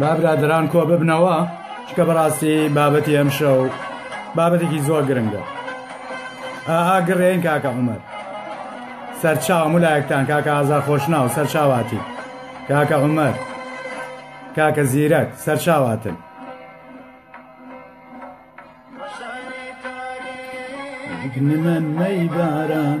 با برادران کۆ ببنەوە چکە بەڕاستی بابەتی ئەم شەو بابەتێکی زۆر گرنگە ئاها گڕێن کاکە عمر سەرچاو ملایەکتان کاکە ئازا خۆشناو سەرچاواتی کاکە عمر کاکە زیرەک سەرچاواتن من مەی باران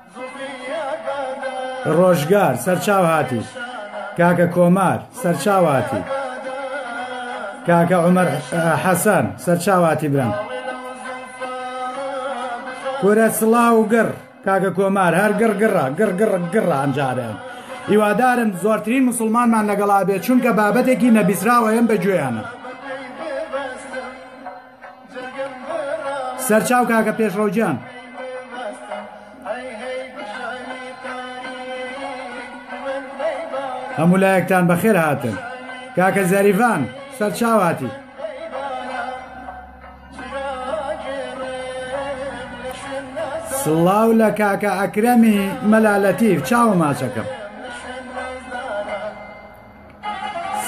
ڕۆژگار سەرچاو هاتی کاکە کۆمار سەرچاو هاتی کاکە عمر حەسەن سەرچاو هاتی برم کورە سڵاو و گڕ کاکە کۆمار هەر گڕ گڕە گڕ گڕ گڕە ئەمجارێن هیوادارم زۆرترین مسلمانمان لەگەڵا بێت چونکە بابەتێکی نەبیسراوەیەم بە گوێیانە سەرچاو کاکە پێشڕەوگیان. هەموو لایەکتان بەخێر هاتن کاکە زەریڤان سەرچاواتی سڵاو لە کاکە ئەکرەمی مەلالەتیف چاوە ماچەکەم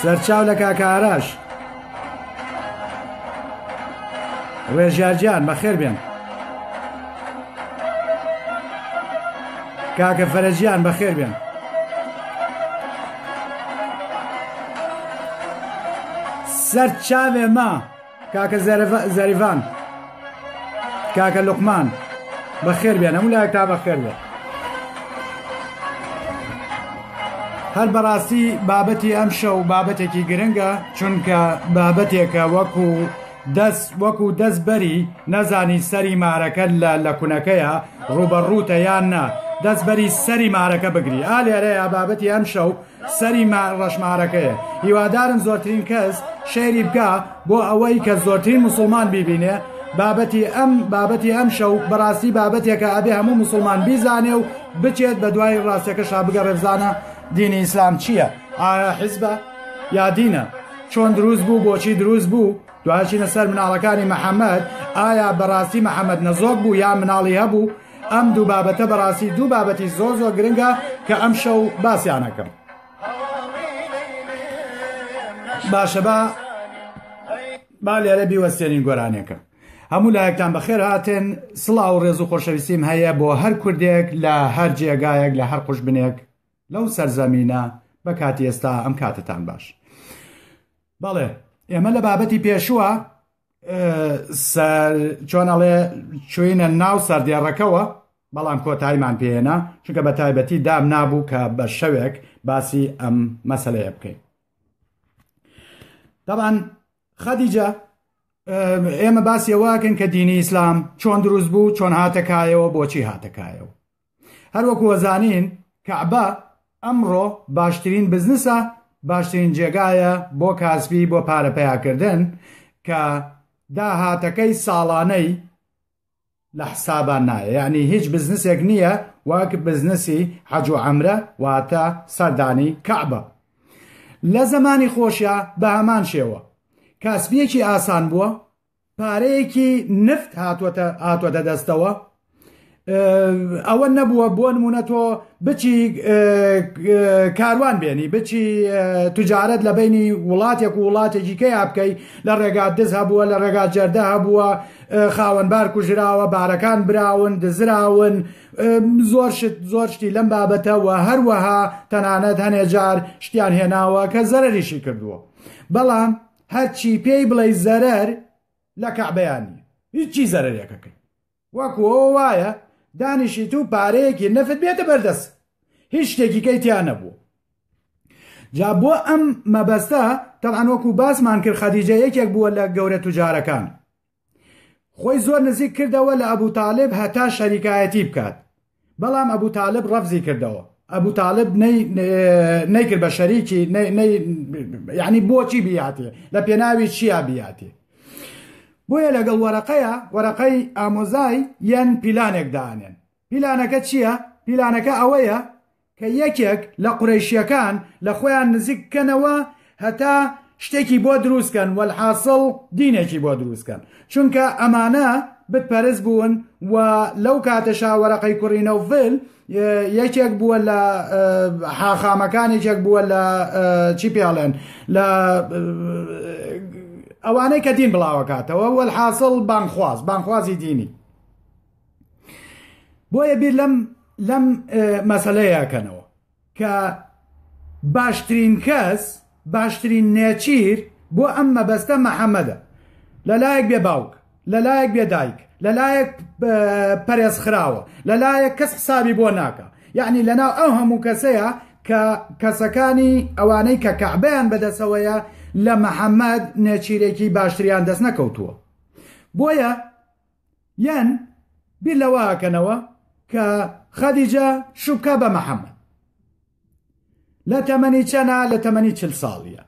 سەرچاو لە کاکە ئاراش ڕێژارجان بەخێر بێن کاکە فەرەجیان بەخێر بێن سەر چاوێ ما کاکە زەریڤان کاکە لوقمان بەخێر بێن هەموو لایەک تا بەخێر بێت هەر بەڕاستی بابەتی ئەم شەو بابەتێکی گرنگە چونکە بابەتێکە وەکو دەست وەکو دەست بەری نەزانی سەری مارەکە لە لە کونەکەیە ڕوبەڕوتە یان نا دەست بەری سەری مارەکە بگری ئالێرەیە بابەتی ئەم شەو سەری ڕەشمارەکەیە هیوادارم زۆرترین کەس شەیری بکا بۆ ئەوەی کە زۆرترین موسڵمان بیبینێ بابەتی ئەم بابەتی ئەم شەو بەڕاستی بابەتێکە ئەبێ هەموو موسڵمان بیزانێ و بچێت بە دوای ڕاستەکەشا بگە ڕێبزانە دینی ئیسلام چییە ئایا حزبە یا دینە چۆن دروست بوو بۆچی دروست بوو دوچینە سەر مناڵەکانی محەممەد ئایا بەڕاستی محەممەد نەزۆک بوو یا مناڵی هەبوو ئەم دوو بابەتە بەڕاستی دوو بابەتی زۆر زۆر گرنگە کە ئەم شەو باسییانەکەم باشە با با لێرە بیوەستێنین گۆرانێکە هەموو لایەکتان بەخێر هاتن سڵاو و ڕێز و خۆشەویستیم هەیە بۆ هەر کوردێک لە هەر جێگایەک لە هەر قوش بنێک لەو سەرزەمینە بە کاتی ئێستا ئەم کاتتان باش بەڵێ ئێمە لە بابەتی پێشووە چۆن ئەڵێ چوینە ناو سەردێڕەکەەوە بەڵام کۆتاییمان پێێنا چونکە بە تایبەتی دام نابوو کە بە شەوێک باسی ئەم مەسلەیە بکەین دەبان خەدیجە ئێمە باسیەوەکەن کە دینی ئیسلام چۆن دروست بوو چۆن هاتەکایەوە بۆچی هاتەکایەوە هەروەکو ئەزانین کەعبە ئەمڕۆ باشترین بزنسە باشترین جێگایە بۆ کاسبی بۆ پارە پیاکردن کە داهاتەکەی ساڵانەی لە حسابان نایە یعنی هیچ بزنسێک نییە وەک بزنسی حەج و ئەمرە واتە سەردانی کەعبە لە زمانی خۆشە بە هەمان شێوە کاسبیەکی ئاسان بووە پارەیەکی نفت هاتوەتە دەستەوە ئەوە نەبووە بۆ نمونە تۆ بچی کاروان بێنی بچی تجارت لە بینی وڵاتێک و وڵاتێکی کەیا بکەی لە ڕێگا دز هەبووە لە ڕێگا جەردە هەبووە خاوەنبار کوژراوە بارەکان براون دزراون زۆر شت زۆر شتی لەم بابەتەوە هەروەها تەنانەت هەنێ جار شتیان هێناوە کە زەرریشی کردووە بەڵام هەرچی پێی بڵێی زەرەر لە کەعبەیان نیە هیچی زەرەرەکەکەی وەکو ئەوە وایە دانیشیت و پارەیەکی نەفت بێتە بەردەست هیچ شتێکی کەی تیا نەبوو جا بۆ ئەم مەبەستە تەعاان وەکو باسمان کرد خەدیجە یەکێک بووە لە گەورە توجارەکان خۆی زۆر نزیک کردەوە لە ئەبو تالیب هەتا شەریکایەتی بکات بەڵام ئەبو تالیب ڕەفزی کردەوە ئەبو تاالب نەیکرد بە شەریکی ینی بۆچی بیاتێ لە پێناوی چیا بیاتێ بۆیە لەگەڵ وەرەقەیە وەرەقەی ئامۆزای یەن پیلانێک دانێن پیلانەکە چییە؟ پیلانەکە ئەوەیە کە یەکێک لە قورەیشیەکان لە خۆیان نزیک بکەنەوە هەتا شتێکی بۆ دروست کەن وەلحاسڵ دینێکی بۆ دروست کەن چونکە ئەمانە بت پەرست بوون و لەو کاتەشا وەرەقەی کوڕی نەوفل یەکێک بووە لە حاخامەکان یەکێک بووە لە چی پێڵێن لە ئەوانەی کە دین بڵاوەکاتەوە وەلحاسڵ بانخواز بانخوازی دینی بۆیە بیر لەم لەم مەسلەیەکەنەوە کە باشترین کەس باشترین نێچیر بۆ ئەم مەبەستە محەممەدە لەلایەک بێ باوک لەلایەک بێ دایک لەلایەک پەرێز خراوە لەلایەک کەس حسابی بۆ ناکە یعنی لەناو ئەو هەموو کەسەیە کە کەسەکانی ئەوانەی کە کەعبیان بەدەسەوەیە لە محەممەد نێچیرێکی باشتریان دەست نەکەوتووە بۆیە یان بیر لەوەکەنەوە کە خەدیجە شوبکە بە محەممەد لە تەمەنی چەنە لە تەمەنی چل ساڵیە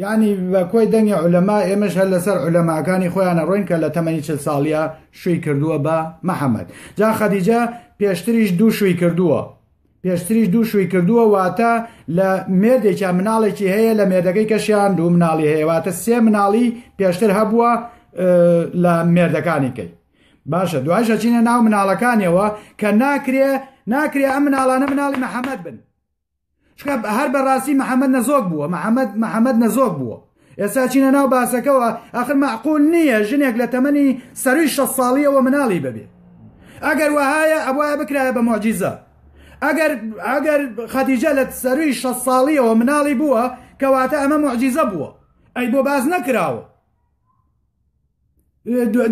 یعنی بە کۆی دەنگی عولەما ئێمەش هەر لەسەر عولەماکانی خۆیانە ڕۆین کە لە تەمەنی چل ساڵیە شووی کردووە بە محەممەد جا خەدیجە پێشتریش دوو شووی کردووە پێشتریش دوو شووی کردووە واتە لە مێردێکیا مناڵێکی هەیە لە مێردەکەی کەشیان دوو مناڵی هەیە واتە سێ مناڵی پێشتر هەبووە لە مێردەکانیکەی باشە دوایشە چینە ناو مناڵەکانیەوە کە ناکرێ ناکرێ ئەم مناڵانە مناڵی محەممەد بن هەر بەڕاستی محەممەد نەزۆک بووە محەممەد محەممەد نەزۆک بووە ئێستا چینە ناو باسەکەوە ئەخر مەعقول نییە ژنێک لە تەمەنی سەروی شە ساڵیەوە مناڵی ببێ ئەگەر وهایە ئەوە بکرایە بە مۆجیزە ئەگەر ئەگەر خەدیجە لە سەروی شە ساڵیەوە مناڵی بووە کەواتە ئەمە مۆجیزە بووە ئەی بۆ باز نەکراوە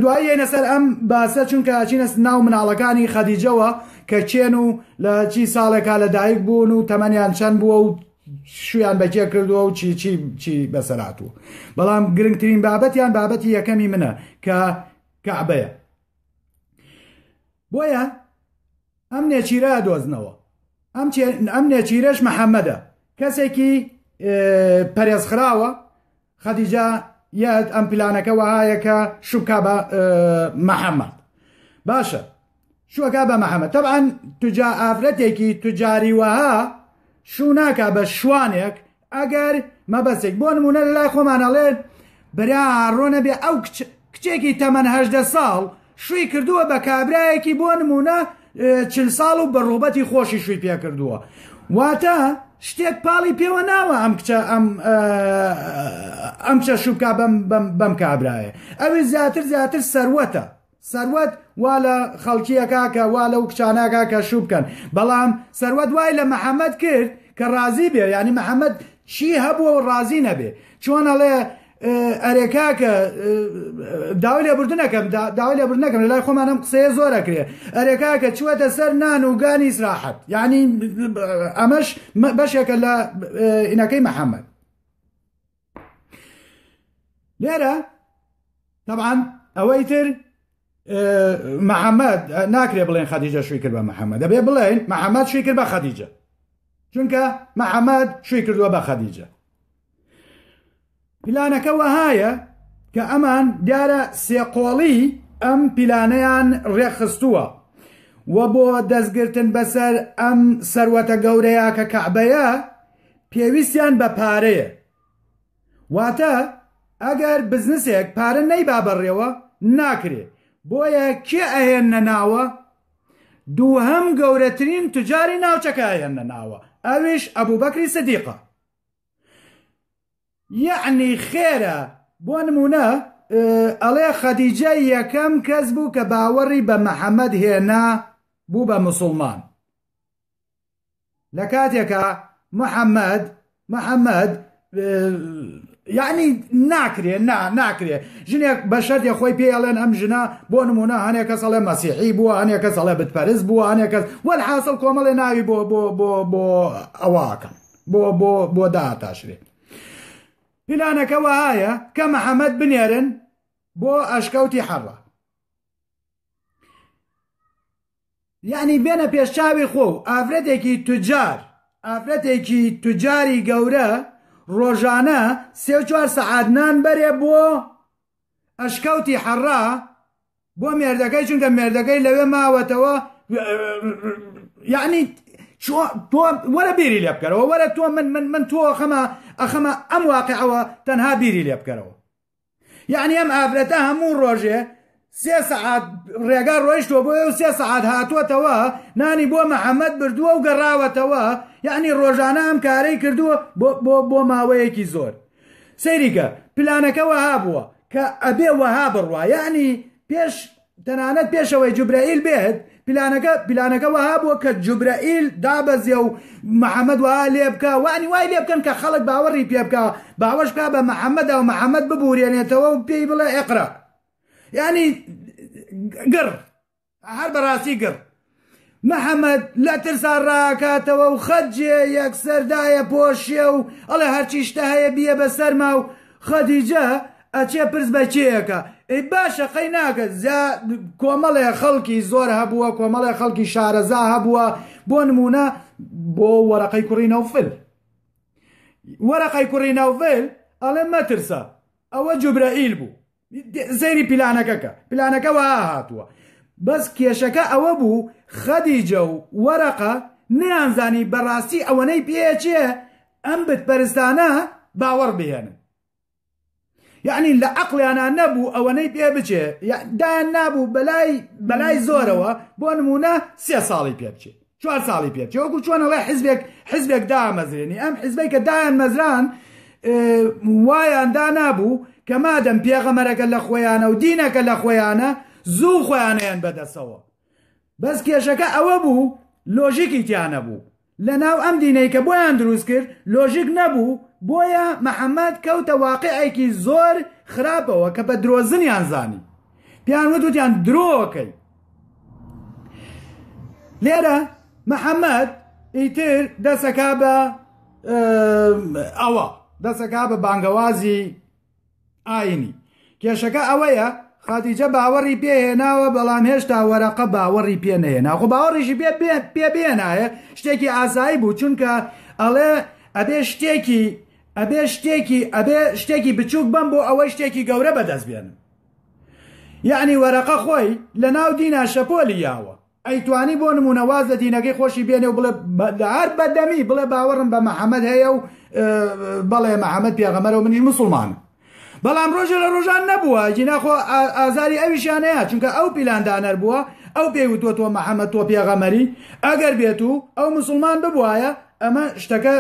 دوای یەنە سەر ئەم باسە چونکە چینە ناو مناڵەکانی خەدیجەوە کە چێن و لە چی ساڵێکا لە دایک بوون و تەمەنیان چەند بووە و شویان بەکێ کردووە و چی چی چی بەسەرات و بەڵام گرنگترین بابەتیان بابەتی یەکەمی منە کە کەعبەیە بۆیە ئەم نێچیرە ئەدۆزنەوە ئەم نێچیرەش محەممەدە کەسێکی پەرێزخراوە خەدیجە یاد ئەم پلانەکە وەهایە کە شوکا بە محەممەد باشە شوەکە بە محەممەد تەبان توجا ئافرەتێکی توجاری وەها شوو ناکە بە شوانێک ئەگەر مەبەستێک بۆ نمونە لە لای خۆمان ئەڵێن برا ڕۆنە بێ ئەو کچێکی تەمەەن هەدە ساڵ شووی کردووە بە کابراایەکی بۆ نمونە چل ساڵ و بە ڕوبەتی خۆشی شووی پێ کردووە واتە شتێک پاڵی پێوە ناوە ئەم کچە ئەم ئەم چە شوکا بەم بەم کابراایە ئەوێ زیاتر زیاتر سەروەتە سروود وا لە خەڵکیەکا کە وا لەو کچاناکا کە شوو بکەن بەڵام سروود وای لە محەممەد کرد کە ڕازی بێ ینی محەممەد چی هەبووە و ڕازی نەبێ چۆن ئەڵێ ئەرێکا کە داوای لێبوردنەکەم داوای لێبوردنەکەم لە لای خۆمانم قسەیە زۆرەکرێ ئەرێکا کە چوەتە سەر نان و گانی سراحەت ینی ئەمەش بەشێکە لە ئینەکەی محەممەد لێرە طبعاان ئەوەی تر محەممەد ناکرێ بڵێن خەدیجە شوی کرد بە محەممەد دەبێ بڵێن محەممەد شوی کرد بە خەدیجە چونکە محەممەد شوی کردووە بە خەدیجە پلانەکە وەهایە کە ئەمان دیارە سێقۆڵی ئەم پیلانەیان ڕێکخستووە و بۆ دەستگرتن بەسەر ئەم سەروەتە گەورەیە کە کەعبەیە پێویستیان بە پارەیە واتە ئەگەر بزنسێک پارە نەیبا بەڕێوە ناکرێ بۆیە کێ ئەهێنە ناوە دووهەم گەورەترین تجاری ناوچەکە ئەهێنە ناوە ئەویش ئەبوو بەکری سدیقە یعنی خێرە بۆ نمونە ئەڵێ خەدیجە یەکەم کەس بوو کە باوەڕی بە محەممەد هێنا بوو بە مسلمان لە کاتێکا محەممەد محەممەد یعنی ناکرێ نا ناکرێ ژنێک بە شەردێ خۆی پێ ئەڵێن ئەم ژنە بۆ نمونە هەنێک کەس ئەڵێ مەسیحی بووە هەنێک کەس ئەڵێ بتپەرز بووە هەنێک کەس وەل حاصل کۆمەڵێ ناوی بۆ بۆ بۆ بۆ ئەواکەن بۆ بۆ بۆ داتاشرێ پیلانەکە وایە کە محەممەد بنێرن بۆ ئەشکەوتی حەڕە یەعنی بێنە پێش چاوی خۆو ئافرەتێکی توجار ئافرەتێکی توجاری گەورە ڕۆژانە سێ چوار سەعات نان بەرێ بۆ ئەشکەوتی حەڕا بۆ مێردەکەی چونکە مێردەکەی لەوێ ماوەتەوە یعنی تۆ وەرە بیری لێ بکەرەوە وەرە تۆ من من من تۆ خەمە ئەخەمە ئەم واقعەوە تەنها بیری لێ بکەرەوە یعنی ئەم ئافرەتە هەموو ڕۆژێ سێ سەعات ڕێگا ڕۆیشتوە بۆ و سێ سەعات هاتووەتەوە نانی بۆ محەممەد بردووە و گەڕاوەتەوە یعنی ڕۆژانە ئەم کارەی کردووە بۆ ماوەیەکی زۆر سەیریکە پلانەکە وەها بووە کە ئەبێ وەها بڕواە ینی پێش تەنانەت پێش ئەوەی جوبرەئیل بێت پلانەکە پلانەکە وەها بووە کە جوبرەئیل دابەزێ و محەممەد وەها لێ بکە وانی وای لێ بکەن کە خەڵک باوەڕی پێ بکە باوەش بکە بە محەممەدا و محەممەد ببورێنێتەوە و پێی بڵێ ئەقرا ینی گڕ هەر بەڕاستی گڕ محەمەد لە ترسا ڕاکاتەوە و خەدجێ یەکسەر دایەپۆشێ و ئەڵێ هەرچی شتە هەیە بیە بە سەرما و خەدیجە ئەچێ پرس بە کێیەکە ئەی باشە قەی ناکە زیا کۆمەڵێ خەڵکی زۆر هەبووە کۆمەڵێ خەڵکی شارەزا هەبووە بۆ نمونە بۆ وەرەقەی کوڕی نەوفل وەرەقەی کوڕی نەوفل ئەڵێ مەترسە ئەوە جوبرەئیل بوو سەیری پیلانەکەکە پیلانەکە وە هاتووە بەس کێشەکە ئەوە بوو خەدیجە و وەرەقە نیانزانی بەڕاستی ئەوەنەی پێچێ ئەم بتپەرستانە باوەڕ بهێنن یعنی لە عقلیانە نەبوو ئەوەنەی پێ بچێ دایان نابوو بەلای بەلای زۆرەوە بۆ نمونە سێ ساڵی پێ بچێت چوار ساڵی پێ چێ وەکو چۆن ئەڵێ حزبێک حزبێک دامەزرێنی ئەم حزبەی کە دایان مەزران وایان دانابوو کە مادەم پێغەمەرەکە لە خۆیانە و دینەکە لە خۆیانە زوو خۆیانیان بەدەسەوە بەس کێشەکە ئەوە بوو لۆژیکی تیانە بوو لە ناو ئەم دینەی کە بۆیان دروست کرد لۆژیک نەبوو بۆیە محەممەد کەوتە واقعێکی زۆر خراپەوە کە بە درۆزنیان زانی پیان وتوتیان درۆکەی لێرە محەممەد ئیتر دەسەکە بە ئەوە دەسەکە بە بانگەوازی ئاینی کێشەکە ئەوەیە خاتیجە باوەڕی پێهێناوە بەڵام هێشتا وەرەقە باوەڕی پێ نەهێنا خۆ باوەڕیشی پێ پێ بێنایە شتێکی ئاسایی بوو چونکە ئەڵێ ئەبێ شتێکی ئەبێ شتێکی ئەبێ شتێکی بچووک بم بۆ ئەوەی شتێکی گەورە بەدەست بێنم یەعنی وەرەقە خۆی لە ناو دینا شەپۆلی یاوە ئەیتوانی بۆ نمونە واز لە دینەکەی خۆشی بێنێ و بڵێ هەر بەدەمی بڵێ باوەڕم بە محەممەد هەیە و بەڵێ محەممەد پێغەمەرەوە منیش مسلمان بەڵام ڕۆژە لە ڕۆژان نەبووە جیناخۆ ئازاری ئەویشانەیە چونکە ئەو پیلاندانەر بووە ئەو پێی وتوە تۆ محەممەد تۆ پێغەمەری ئەگەر بێت و ئەو مسلمان ببوایە ئەمە شتەکە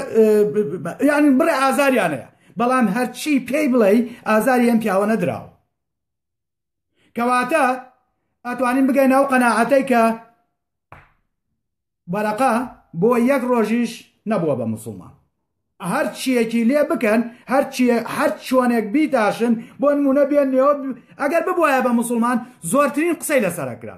یعنی بڕێ ئازاریانەیە بەڵام هەرچی پێی بڵێی ئازاری ئەم پیاوە نەدراوە کەواتە ئەتوانین بگەین ئەو قەناعەتەی کە بەرەقە بۆ یەک ڕۆژیش نەبووە بە مسلمان هەر چیەکی لێ بکەن هەر هەر چۆنێک بیتاشن بۆ نمونە بێنەوە ئەگەر ببواە بە مسلمان زۆرترین قسەی لەسەرکرا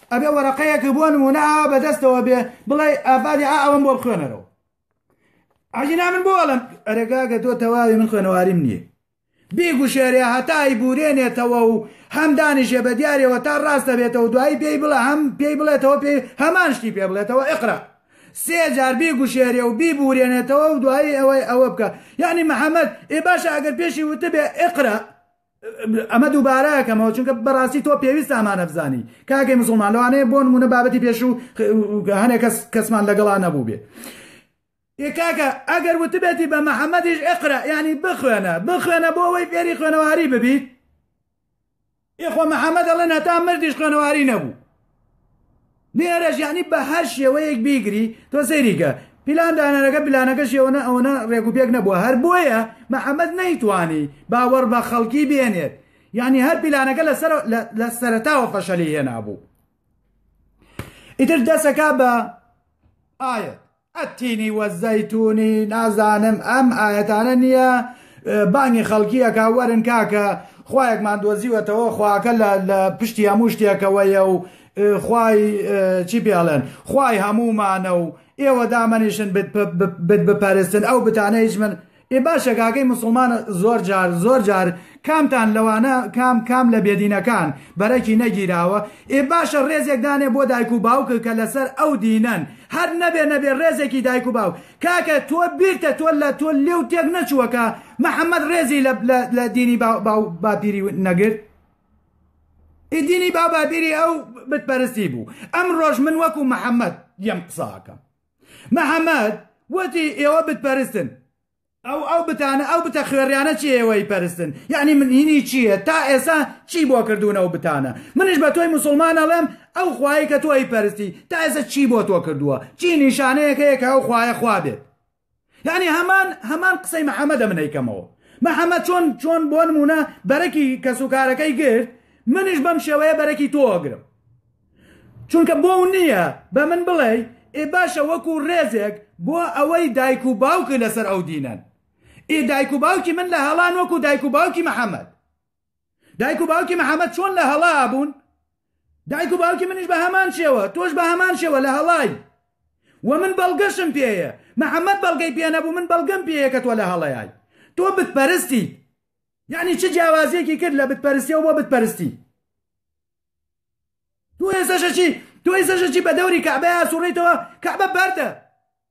ئەبێ وەرەقەیەکە بۆ نمونە ئاوا بەدەستەوە بێ بڵێ ئافادی ئا ئەوم بۆ بخوێنەرەوە ئەجینا من بۆ ئەڵم ئەرەگاگە تۆ تەواوی من خوێنەواریم نییە بیگوشێرێ هەتای بورێنێتەوە و هەم دانیشێ بە دیارەوە تا ڕاستە بێتەوە دوایی پێی بڵە هەم پێی بڵێتەوە پێ هەمان شتی پێ بڵێتەوە ئقرا سێ جار بیگوشێرێ و بیبورێنێتەوە و دوایی ئەوەی ئەوە بکە یعنی محەممەد ئێ باشە ئەگەر پێشی وتبێ ئقرا ئەمە دووبارە ئەکەمەوە چونکە بەڕاستی تۆ پێویست ئامانە بزانی کاگەی مسلمان لەوانەیە بۆ نمونە بابەتی پێشوو هەنێک کەس کەسمان لەگەڵا نەبوو بێ کاکە ئەگەر وتبێتی بە محەممەدیش ئەقرا ینی بخوێنە بخوێنە بۆ ئەوەی فێری خوێنەواری ببیت ئێخۆ محەممەد ئەڵێن هەتا مردیش خوێنەواری نەبوو لێرەش یانی بە هەر شێوەیەک بیگری تۆ سەیری کە پیلان دانەرەکە پلانەکە شێوەنە ئەوەنە ڕێک و پێک نەبووە هەر بۆیە محەممەد نەیتوانی باوەڕ بە خەڵکی بێنێت یعنی هەر پیلانەکە لە سەرتاوە فەشەلی هێنابوو ئیتر دەسەکە بە ئاەت التین و الزیتون نازانم ئەم ئایەتانە نیە بانگی خەڵکی ئەکا وەرن کاکە خوایەکمان دۆزیوەتەوە خواکە لە لە پشتی هەموو شتێکەوەیە و خوای چی پێڵێن خوای هەموومانە و ئێوە دامەنیشن بت بپەرستن ئەو بتانە هیچ من ئێ باشە کاکەی موسڵمان زۆر جار زۆر جار کامتان لەوانە کام کام لە بێدینەکان بەرەکی نەگیراوە ئێ باشە ڕێزێک دانێ بۆ دایک و باوکە کە لەسەر ئەو دینەن هەر نەبێ نەبێ ڕێزێکی دایک و باو کاکە تۆ بیرتە تۆ لە تۆ لێو تێک نەچووەکە محەممەد ڕێزی لە دینی باپیری نەگرت ئی دینی باوباپیری ئەو بتپەرستی بوو ئەم ڕۆژ من وەکو محەممەد یەم قساکەم محمد، وتی، ئێوە بت پەرستن. ئەو ئەو بتانە، ئەو بتە خوێڕیانە چی ئێوەی پەرستن؟ یەعنی من هینی چییە؟ تا ئێسا چی بۆ کردوون ئەو بتانە؟ منیش بە تۆی موسڵمان ئەڵێم ئەو خوایەی کە تۆ ئەیپەرستی تا ئێسا چی بۆ تۆ کردووە؟ چی نیشانەیەک هەیە کە ئەو خوایە خوا بێت؟ یانی هەمان هەمان قسەی محمدە من ئەیکەمەوە محمد چۆن چۆن بۆ نمونە بەرەکی کەس و کارەکەی گرت منیش بەم شێوەیە بەرەکی تۆ ئەگرم چونکە بۆ و نییە بە من بڵێ ئێ باشە وەکو ڕێزێک بۆ ئەوەی دایک و باوکی لەسەر ئەو دینەن ئێ دایک و باوکی من لە هەڵان وەکو دایک و باوکی محمد دایک و باوکی محەممەد چۆن لە هەڵا بوون دایک و باوکی منیش بە هەمان شێوە تۆش بە هەمان شێوە لە هەڵای و من بەڵگەشم پێەیە محەممەد بەڵگەی پێ نەبوو من بەڵگەم پێەیە کە تۆ لە هەڵەیای تۆ بتپەرستی یعنی چ جیاوازیەکی کرد لە بتپەرستی و بۆ بتپەرستی تۆ ێزەشەچی تۆی زەشەچی بە دەوری کەعبە ئاسوڕیتەوە کەعبە بەردە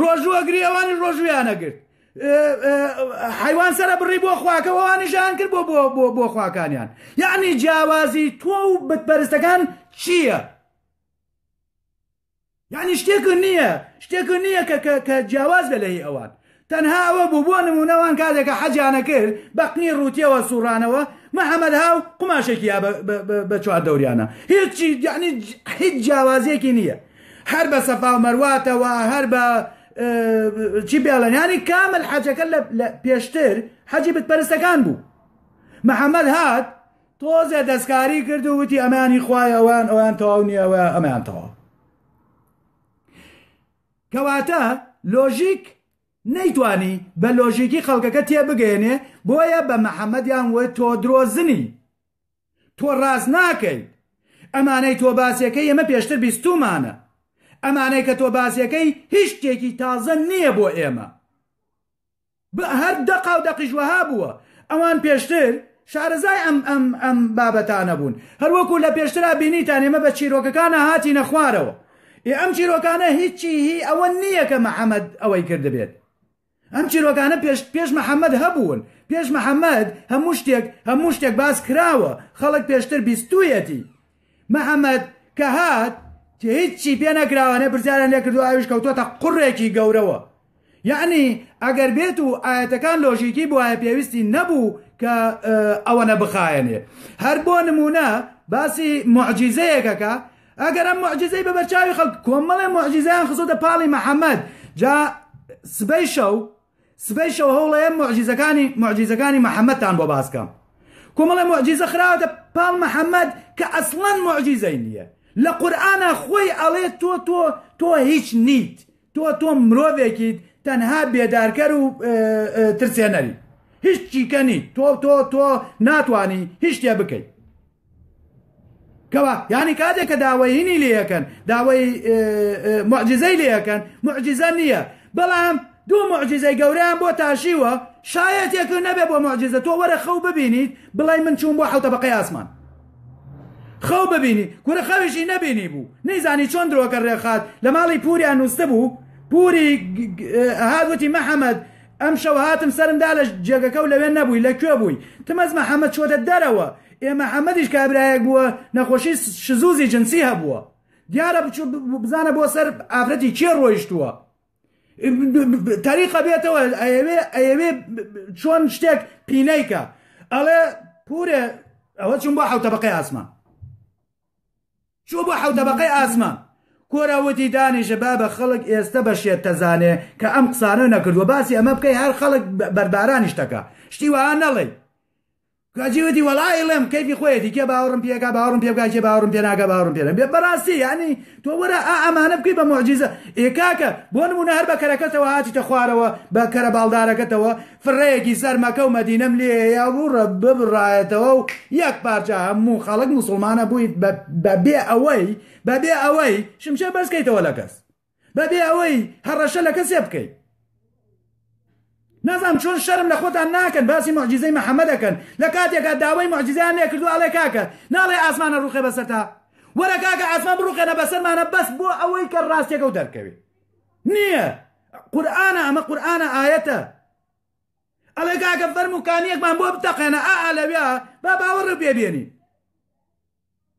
ڕۆژوو ئەگری ئەوانی ڕۆژویان نەگرت حیوان سەرە بڕی بۆ خواکە ئەوانیشان کرد بۆ بۆ بۆ بۆ خواکانیان یعنی جیاوازی تۆ و بتپەرستەکان چییە؟ یعنی شتێک نییە شتێک نییە کە کە جیاواز بە لەهی ئەوان تەنها ئەوە بوو بۆ نمونەوان کاتێکە حەجانە کرد بەقنی ڕوتیەوە سوڕانەوە محەممەد هاو قماشێکی بە چوار دەوریانە هیچی یعنی هیچ جیاوازیەکی نییە هەر بە سەفاو مەرواتەوە هەر بە چی بێڵێن ینی کامل حەجەکە لە پێشتر حەجی بتپەرستەکان بوو محەممەد هات تۆزێ دەستکاری کرد و وتی ئەمانی خوای ئەوان ئەوان تەواو نیەوە ئەمان تەواو کەواتە لۆژیک نەیتوانی بە لۆژیکی خەڵکەکە تێبگەێنێ بۆیە بە محەممەدیان وە تۆ درۆزنی تۆ ڕاست ناکەیت ئەمانەی تۆ باسیەکەی ئێمە پێشتر بیستومانە ئەمانەی کە تۆ باسیەکەی هیچ شتێکی تازە نییە بۆ ئێمە بە هەر دەقا و دەقیش وەها بووە ئەوان پێشتر شارەزای ئەم ئەم ئەم بابەتانە بوون هەروەکو لە پێشترا بینیتان ئێمە بە چیرۆکەکانە هاتی نەخوارەوە ئێ ئەم چیرۆکانە هیچی هی ئەوە نییە کە محەممەد ئەوەی کردبێت ئەم چیرۆکانە پێش پێش محمد هەبوون پێش محمد هەموو شتێک هەموو شتێک باس کراوە خەڵک پێشتر بیستویەتی محمد کە هات هیچی پێ نەکراوانە پرسیاران لێ کردو ئاویش کەوتوتە قڕێکی گەورەوە یعنی ئەگەر بێت و ئاەتەکان لۆژیکی بواە پێویستی نەبوو کە ئەوەنە بخایەنێ هەر بۆ نمونە باسی معجیزەیەکەکە ئەگەر ئەم معجزەی بە بەرچاوی خەڵک کۆمەڵێ معجزەیان خستۆتە پاڵی محەممەد جا سبەی شەو سبەی شەو هەوڵەیە معجزەکانی معجزەکانی محەممەدتان بۆ باسکەم کۆمەڵێ معجزە خراوەتە پاڵ محەممەد کە ئەسڵەن معجزەی نییە لە قورآە خۆی ئەڵێ تۆ تۆ تۆ هیچ نیت تۆ تۆ مرۆڤێکیت تەنها بێدارکەر و ترسێنەری هیچ چیکە نیت تۆ تۆ تۆ ناتانی هیچ شتێ بکەیت کەوە یانی کاتێک کە داوای هینی لێەکەن داوای معجززەی لێەکەن معجززە نییە بەڵام دوو معجززەی گەوریان بۆ تاشیوە شایەتێک نەبێ بۆ معجززە تۆ وەرە خەو ببینیت بڵای من چوون بۆ حوتە بەقی ئاسمان خەو ببینی کورە خەویشی نەبینی بوو نەیزانی چۆن درۆکە ڕێخات لە ماڵی پوریان نووسە بوو پوری هاگوتی محەممەد ئەم شەو هاتم سرمدا لە جێگەکە و لەوێ نەبووی لە کوێ بووی تمەز محەممەد چۆتە دەرەوە ئێ محمدیش کابرایەک بووە نەخۆشی شزوزی جنسی هەبووە دیارە بچوو بزانە بۆ سەر ئافرەتی کێ ڕۆیشتووە تەریقە بێتەوە ئەوێ ئەوێ چۆن شتێک پینەیکە ئەڵێ پورێ ئەوە چون بۆ حوتە بەقی ئاسمان چۆ بۆ حوتە بەقی ئاسمان کۆراوەتی دانیشە با بە خەڵک ئێستا بەشێت تەزانێ کە ئەم قسانە نەکردووە باسی ئەمە بکەی هەر خەڵک بەربارانیشتەکە شتی وان نەڵێ کاجی وتی وەڵا ئەیڵێم کەیفی خۆیەتی کێ باوەڕم پێ ئەکا باوەڕم پێ بکا کێ باوەڕم پێ ناکا باوەڕم پێ نەبێ بەڕاستی یانی تۆ وەرە ئا ئەمانە بکەی بە موعجیزە ئێ کاکە بۆ نموونە هەر بە کەرەکەتەوە هاتیتە خوارەوە بە کەرە باڵدارەکەتەوە فڕەیەکی سەر مەکە و مەدینەم لێ هەیە و ڕە ببڕایەتەوە و یەک پارچە هەموو خەڵک موسوڵمان ئەبوویت بە بە بێ ئەوەی بە بێ ئەوەی شمشێر بەرز کەیتەوە لە کەس بەبێ ئەوەی هەڕەشە لە کەسێ بکەیت نازام چۆن شەرم لە خۆتان ناکەن باسی معجززەی محەممە دەکەن لە کاتێکا داوای معجززیان لێ کردو ئەڵێ کاکە ناڵێ ئاسمانە ڕوخێ بەسەرتا وەرە کاکە ئاسمان بڕوخێنە بەسەرمانە بەس بۆ ئەوەی کە ڕاستێکە و دەرکەوێ نییە قورآانە ئەمە قورآانە ئاەتە ئەڵێ کاکە فەرم و کانیەکمان بۆ بتەقێنە ئا لەوێ با باوەڕ بێبێنی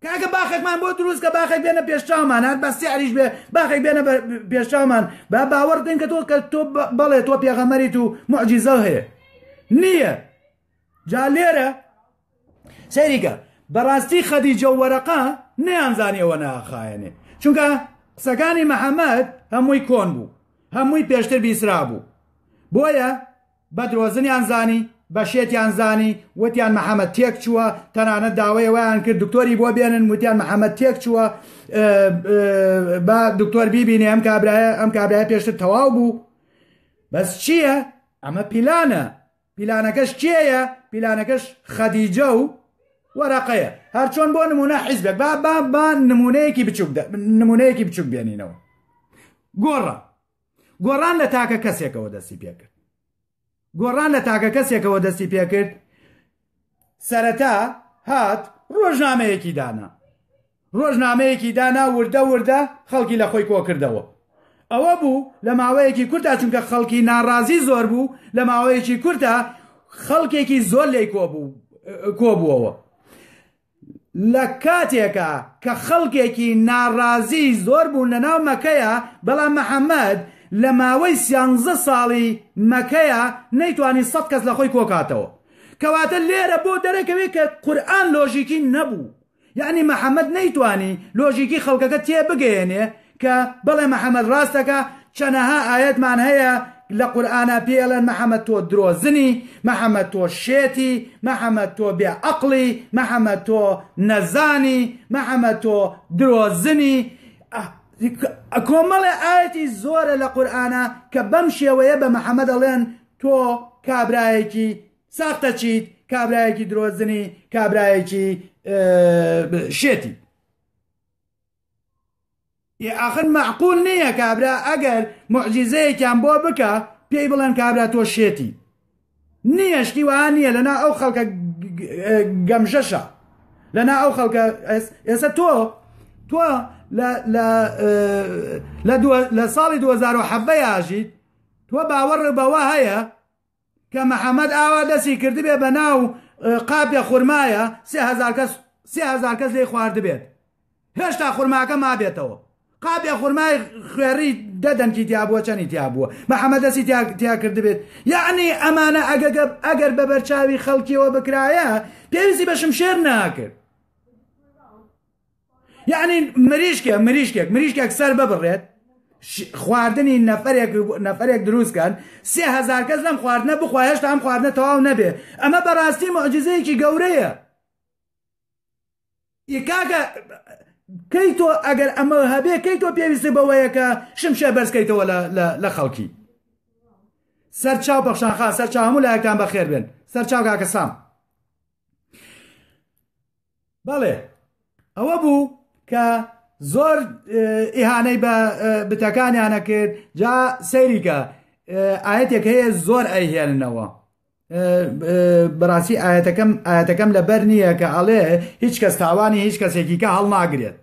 کاکە باخێکمان بۆ دروست کە باخێک بێنە پێشچاومان هەر بە سعریش بێ باخێک بێنە پێشچاومان با باوەڕ بکەین کە تۆ کە تۆ بەڵێ تۆ پێغەمەریت و معجیزە هەیە نییە جا لێرە سەیریکە بەڕاستی خەدیجە و وەرەقا نەیانزانیەوە ناخایەنێ چونکە قسەکانی محەممەد هەمووی کۆن بوو هەمووی پێشتر بیسرا بوو بۆیە بە درۆزنیان زانی، بە شێتیان زانی، وتیان محەمەد تێکچووە، تەنانەت داوای ئەوەیان کرد دکتۆری بۆ بێنن، وتیان محەمەد تێکچووە، با دکتۆر بیبینێ ئەم کابرایە، ئەم کابرایە پێشتر تەواو بوو. بەس چییە؟ ئەمە پیلانە. پیلانەکەش کێیە؟ پیلانەکەش خەدیجە و وەرەقەیە. هەرچۆن بۆ نمونە حیزبێک با با با نمونەیەکی بچووک نمونەیەکی بچووک بێنینەوە. گۆڕە. گۆڕان لە تاکە کەسێکەوە دەستی پێکرد گۆڕان لە تاکە کەسێکەوە دەستی پێکرد سەرەتا هات ڕۆژنامەیەکی دانا ڕۆژنامەیەکی دانا وردە وردە خەڵکی لە خۆی کۆکردەوە ئەوە بوو لە ماوەیەکی کورتا چونکە خەڵکی ناڕازی زۆر بوو لە ماوەیەکی کورتا خەڵکێکی زۆر لی کۆبوو کۆبووەوە لە کاتێکا کە خەڵکێکی ناڕازیی زۆر بوون لە ناو مەکەیا، بەڵام محەمەد لە ماوەی سیانزە ساڵی مەکەیا نەیتوانی سەد کەس لە خۆی کۆکاتەوە. کەواتە لێرە بۆ دەرەکەوێ کە قورئان لۆژیکی نەبوو. یەعنی محەمەد نەیتوانی لۆژیکی خەڵکەکە تێبگەیەنێ کە بڵێ محمد ڕاست دەکا چەنەها ئایەتمان هەیە لە قورئانا پێی ئەڵێن محمد تۆ درۆزنی محمد تۆ شێتی محمد تۆ بێ ئەقڵی محمد تۆ نەزانی محمد تۆ درۆزنی کۆمەڵێ ئاەتی زۆرە لە قورآە کە بەم شێوەیە بە محەممەد ئەڵێن تۆ کابرایەکی ساختە چیت کابرایەکی درۆزنی کابرایەکی شێتی ئێ ئاخر مەعقول نیە کابرا ئەگەر موعجیزەیەکیان بۆ بکا پێی بڵێن کابرا تۆ شێتی نیە شتی وەها نیە لەنا ئەو خەڵکە گەمژەشە لەنا ئەو خەڵکە ئێستا تۆ تۆ لە ساڵی 2010 یاژیت تۆ باوەڕ بەوە هەیە کە محمد ئاوا دەستی کردبێ بە ناو قاپێ خورمایا سێ هەزار کەس سێ هەزار کەس لێی خواردبێت هێشتا خورماکە مابێتەوە قاپێ خورمای خوێڕی دە دەنکی تیا بووە چەنی تیا بووە محمد دەستی تیا تیا کردبێت یعنی ئەمانە ئەگەگە ئەگەر بە بەرچاوی خەڵکیەوە بکرایە پێویستی بە شمشێر ناکرد یعنی مریشکێک مریشکێک مریشکێک سەر ببڕێت خواردنی نەفرێک نەفرێک دروستکەن سێهزار کەس لەم خواردنە بخوا هێشتا ئەم خواردنە تەواو نەبێ ئەمە بەڕاستی معجززەیەکی گەورەیە کاکە کەی تۆ ئەگەر ئەمە هەبێ کەی تۆ پێویستی بەوەیەکە شمشێ بەرزکەیتەوە لە خەڵکی سەر چاو بەخشانخا سەر چاهموو لایەکان بەخێر بێن سەر چاو کاکە سام بەڵێ ئەوە بوو کە زۆر ئیهانەی بە بتەکانیانە کرد جا سەیریکە ئاەتێک هەیە زۆر ئەیهێننەوە بەڕاستی ئاەتەکەم ئاەتەکەم لەبەر نییە کە ئەڵێ هیچ کەس تاوانی هیچ کەسێکیکە هەڵناگرێت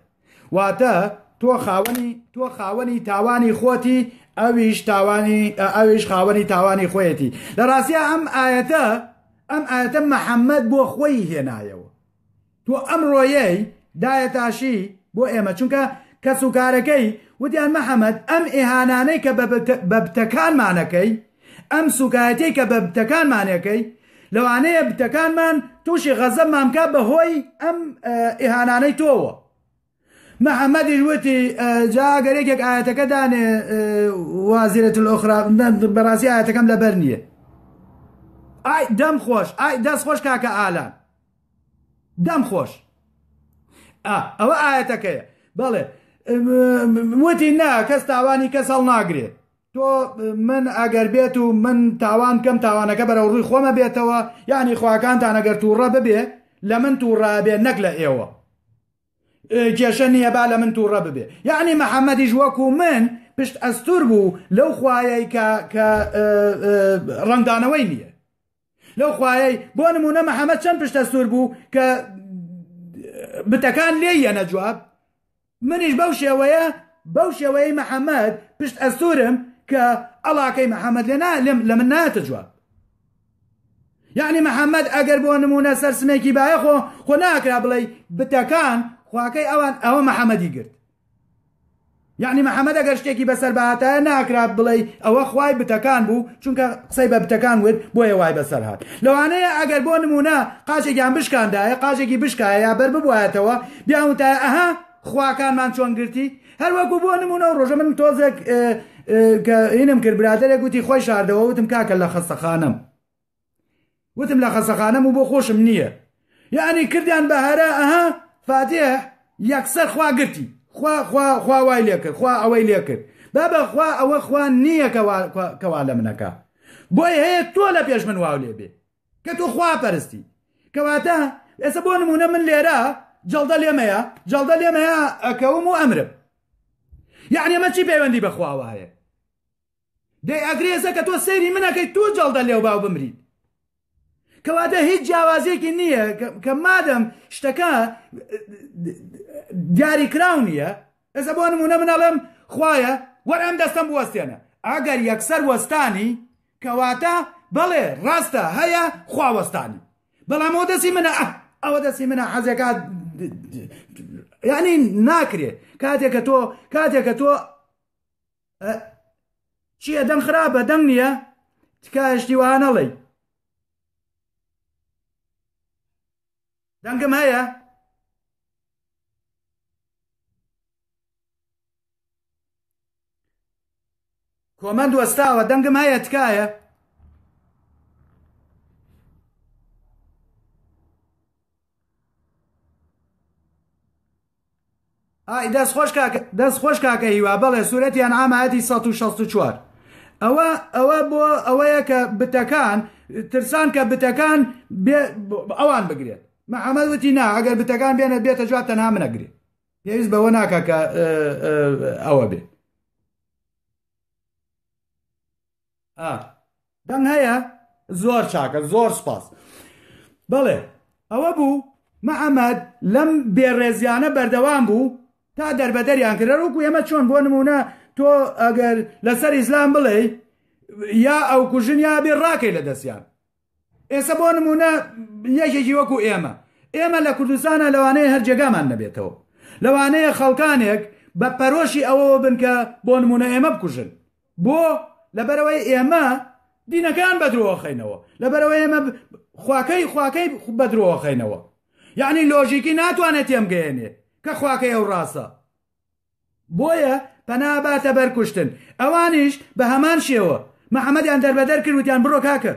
واتە تۆ خاوەنی تۆ خاوەنی تاوانی خۆتی ئەویش تاوانی ئەویش خاوەنی تاوانی خۆیەتی لە ڕاستە ئەم ئاەتە ئەم ئاەتە محەممەد بۆ خۆی هێنایەوە تۆ ئەم ڕۆیەی دایەتاشی بۆ ئێمە چونکە کەس و کارەکەی وتیان محەممەد ئەم ئێهانانەی کە بە بتەکانمانەکەی ئەم سوکایەتیەی کە بە بتەکانمان ئەکەی لەوانەیە بتەکانمان توشی غەزەبمان بکات بە هۆی ئەم ئیهانانەی تۆوە محەممەدیش وتی جا گەر یەکێک ئاەتەکە دانێ وازیرەت ئۆخرا بەڕاستی ئاەتەکەم لەبەر نییە ئای دەم خۆش ئای دەست خۆش کاکە ئالان دەم خۆش ئەوە ئاەتەکەیە بەڵێ وتی نا کەس تاوانی کەس هەڵ ناگرێت تۆ من ئەگەر بێت و من تاوان کەم تاوانەکە بەرەو ڕووی خۆمە بێتەوە یعنی خواکانتان ئەگەر تووڕە ببێ لە من تووڕە بێ نەک لە ئێوە کێشە نییە با لە من تووڕە ببێ یعنی محەممەدیش وەکو من پشت ئەستور بوو لەو خوایەی کە کە ڕنگدانەوەی نییە لەو خوایەی بۆ نمونە محەممەد چەند پشتە سوور بوو کە بتەکان لێ یەنە جواب منیش بەو شێوەیە بەو شێوەیە محەممەد پشت ئەسوورم کە ئەڵاکەی محەممەد لێ نالم لە من ناتە جواب یعنی محەممەد ئەگەر بۆ نمونە سەر سمێکی باە خۆ خۆ ناکرا بڵێ بتەکان خواکەی ئەوان ئەوە محەممەدی گرت یعنی محمد ئەگەر شتێکی بەسەر بهاتایە ناکرات بڵێی ئەوە خوای بتەکان بوو چونکە قسەی بە بتەکان وت بۆیە وای بەسەر هات لەوانەیە ئەگەر بۆ نمونە قاچێکیان بشکاندایە قاچێکی بشکایە یا بەر ببوایەتەوە بیاوتایە ئەها خواکانمان چۆن گرتی هەروەکو بۆ نمونە و ڕۆژە من تۆزێک کە ئینم کرد برادێک وتی خۆی شاردەوە وتم کاکە لە خەستەخانم وتم لە خەسەخانەم و بۆ خۆشم نییە یعنی کردیان بە هەرا ئەها فاتێ یەکسەر خوا گرتی خوا خوا خوا وای لێ کرد خوا ئەوەی لێ کرد بابە خوا ئەوە خوا نییە کەوا لە منەکە بۆی هەیە تۆ لە پێش من واو لێ بێ کە تۆ خوا پەرستی کەواتە ئێستا بۆ نمونە من لێرە جەڵدە لێمەیە جەڵدە لێمەیە ئەکەوم و ئەمرم یعنی ئەمە چی پەیوەندی بەخواوە هەیە دەی ئەگرێزە کە تۆ سەیری من ئەکەیت توو جەڵدە لێوباو بمریت کەواتە هیچ جیاوازیەکی نییە کە مادەم شتەکە دیاری کراو نییە ئێستا بۆ نمونە منەڵێم خوایە وەر ئەم دەستم بوەستێنە ئەگەر یەکسەر وەستانی کەواتە بەڵێ ڕاستە هەیە خواوەستانی بەڵام ئەو دەستی منە ئەوە دەستی منە حەزێکا یعنی ناکرێت کاتێکە تۆ کاتێکە تۆ چیە دەم خراپە دەم نییە تکایشتی وانەڵی دەنگم هەیە کۆمەند وەستاوە دەنگم هەیە تکایە ئای دەست خۆش کاک دەست خۆش کاکە هیوا بەڵێ سوورەتی ئەنعام ئاەتی 164 ئەوە ئەوە بۆ ئەوەیە کە بتەکان ترسان کە بتەکان ئەوان بگرێت محەممەد وتی نا ئەگەر بتەکان بێنە بێتە جواب تەنها منەگرێ پێویست بەوە ناکە کە ئەوە بێت دەنگ هەیە زۆر چاکە زۆر سپاس بەڵێ ئەوە بوو محەممەد لەم بێڕێزیانە بەردەوام بوو تا دەربەدەریان کرد وەکو ئێمە چۆن بۆ نمونە تۆ ئەگەر لەسەر ئیسلام بڵێ یا ئەو کوژن یا بێ ڕاکەی لە دەستیان ئێسە بۆ نمونە یەکێکی وەکو ئێمە ئێمە لە کوردستانە لەوانەیە هەر جێگامان نەبێتەوە لەوانەیە خەڵکانێک بە پەرۆشی ئەوەوە بن کە بۆ نمونە ئێمە بکوژن بۆ لەبەرەوەی ئێمە دینەکان بەدرۆخەینەوە لەبەرەوە ئێمە خواکەی خواکەی بەدرۆخەینەوە یعنی لۆژیکی ناتوانێت تێمگەێنێ کە خواکەی ئەو ڕاستە بۆیە پەنا باتە بەر کوشتن ئەوانیش بە هەمان شێوە محەممەدیان دەربەدەر کرد وتیان بڕۆ کاکە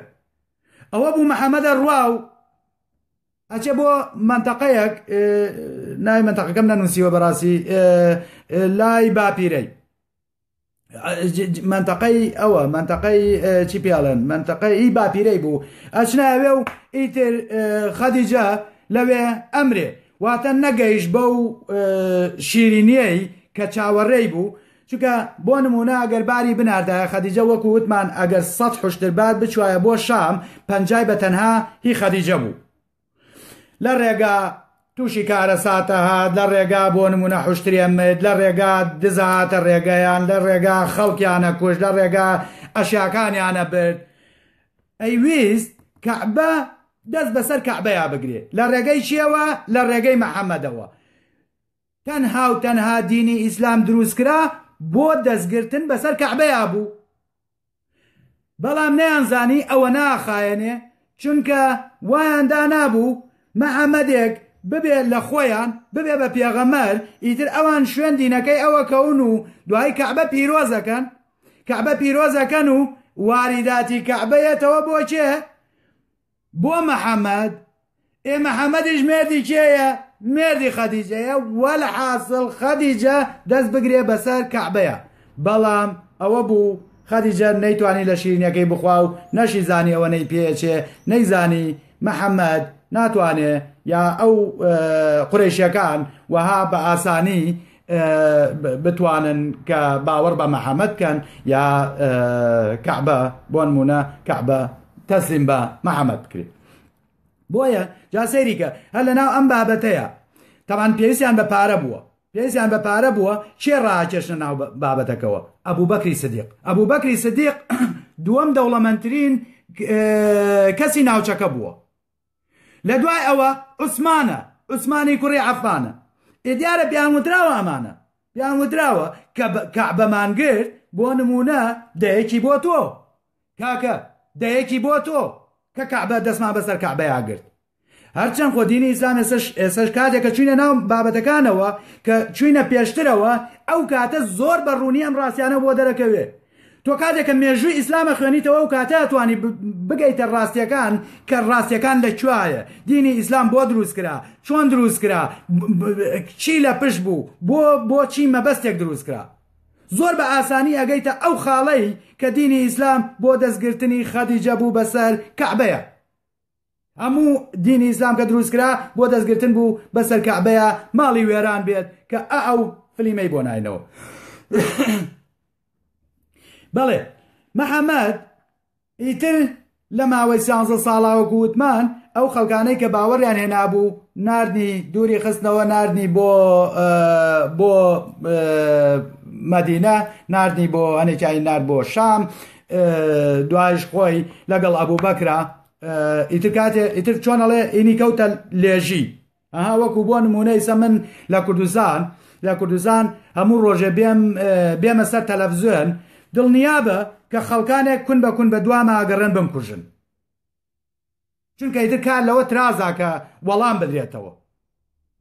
ئەوە بوو محەممەدە ڕوا و ئەچێ بۆ منتەقەیەک ناوی منتەقەکەم نەنووسیوە بەڕاستی لای باپیرەی منتەقەی ئەوە منتەقەی چی پیاڵن منتەقەی ئی باپیرەی بوو ئەچناوێ و ئیتر خەدیجە لەوێ ئەمرێ واتە نەگەیش بەو شیرینیەی کە چاوەڕێی بوو چونکە بۆ نمونە ئەگەر باری بناردایە خەدیجە وەکو وتمان ئەگەر سەد حشتر بار بچوایە بۆ شام پەنجای بە تەنها هی خەدیجە بوو لە ڕێگا تووشی کارەساتە هات لە ڕێگا بۆ نمونە حشتریە مرد لە ڕێگا دزهاتە ڕێگەیان لە ڕێگا خەڵکیانە کوش لە ڕێگا ئەشیاکانیانە برد ئەیویست کەعبە دەست بەسەر کەعبەیە بگرێت لە ڕێگەی چیەوە لە ڕێگەی محەممەدەوە تەنها و تەنها دینی ئیسلام دروستکرا بۆ دەستگرتن بەسەر کەعبەیە بوو بەڵام نەیانزانی ئەوە ناخایەنێ چونکە وایان دانابوو محمدێک ببێ لە خۆیان ببێ بە پێغەمبەر ئیتر ئەوان شوێن دینەکەی ئەوە کەون و دوایی کەعبە پیرۆزەکەن کەعبە پیرۆزەکەن و واریداتی کەعبەیەتەوە بۆ کێ بۆ محمد؟ ئێ محمدیش مێردی کێیە؟ مێردی خەدیجەیە، وەلحاسڵ خەدیجە دەست بگرێ بەسەر کەعبەیا. بەڵام ئەوە بوو خەدیجە نەیتوانی لە شیرینیەکەی بخوا و نەشیزانی ئەوە نەی پێ ئەچێ، نەیزانی محمد ناتوانێ یا ئەو قورەیشیەکان وەها بە ئاسانی بتوانن کە باوەڕ بە محەممەد کەن یا کەعبە بۆن مونە کەعبە تەسلیم بە محەممەد بکرێت بۆیە جا سەیریکە هەر لە ناو ئەم بابەتەیە تەمان پێویستیان بە پارە بووە پێویستیان بە پارە بووە چێ ڕاکێشە ناو بابەتەکەەوە ئەبوو بەکری سدیق ئەبوو بەکری سدیق دووەم دەوڵەمەندترین کەسی ناوچەکە بووە لە دوای ئەوە عوسمانە، عوسمانی کوڕی عەفانە. ئێ دیارە پێیان وتراوە ئەمانە. پێیان وتراوە کە کەعبەمان گرت، بۆ نموونە دەیەکی بۆ تۆ. کاکە، دەیەکی بۆ تۆ، کە کەعبە دەستمان بەسەر کەعبەیا گرت. هەرچەند خۆ دینی ئیسلام ئێسەش ئێسەش کاتێک کە چووینە ناو بابەتەکانەوە، کە چووینە پێشترەوە، ئەو کاتە زۆر بە ڕوونی ئەم ڕاستیانە بۆ دەرەکەوێ. تۆ کاتێکە مێژووی ئیسلام ئەخوێنیتەوە ئەو کاتە ئەتوانی بگەیتە ڕاستیەکان کە ڕاستیەکان لە کوایە دینی ئیسلام بۆ دروست کرا چۆن دروست کرا چی لە پش بوو بۆ بۆچی مەبەستێک دروست کرا زۆر بە ئاسانی ئەگەیتە ئەو خاڵەی کە دینی ئیسلام بۆ دەستگرتنی خەدیجە بوو بەسەر کەعبەیە هەموو دینی ئیسلام کە دروست کرا بۆ دەست گرتن بوو بەسەر کەعبەیە ماڵی وێران بێت کە ئە ئەو فلیمەی بۆ ناینەوە بەڵێ محەممەد ئیتر لە ماوەی سیانزە ساڵاوە گووتمان ئەو خەڵکانەی کە باوەڕیان هێنابوو نردنی دووری خستنەوە نردنی بۆ بۆ مەدینە نردنی بۆ هەنێکیانی نرد بۆ شام دوایش خۆی لەگەڵ ئەبوو بەکرا ئیتر کاتێ ئیتر چۆن ئەڵێ ئینی کەوتە لێژی ئەها وەکو بۆ نمونەیسە من لە کوردستان لە کوردستان هەموو ڕۆژێ بێم بێمە سەر تەلەڤزیۆن دڵنیابە کە خەڵکانێک کون بە کون بە دوامە ئەگەڕێن بم کوژن چونکە ئیتر کار لەوە ترازاکە وەڵام بدرێتەوە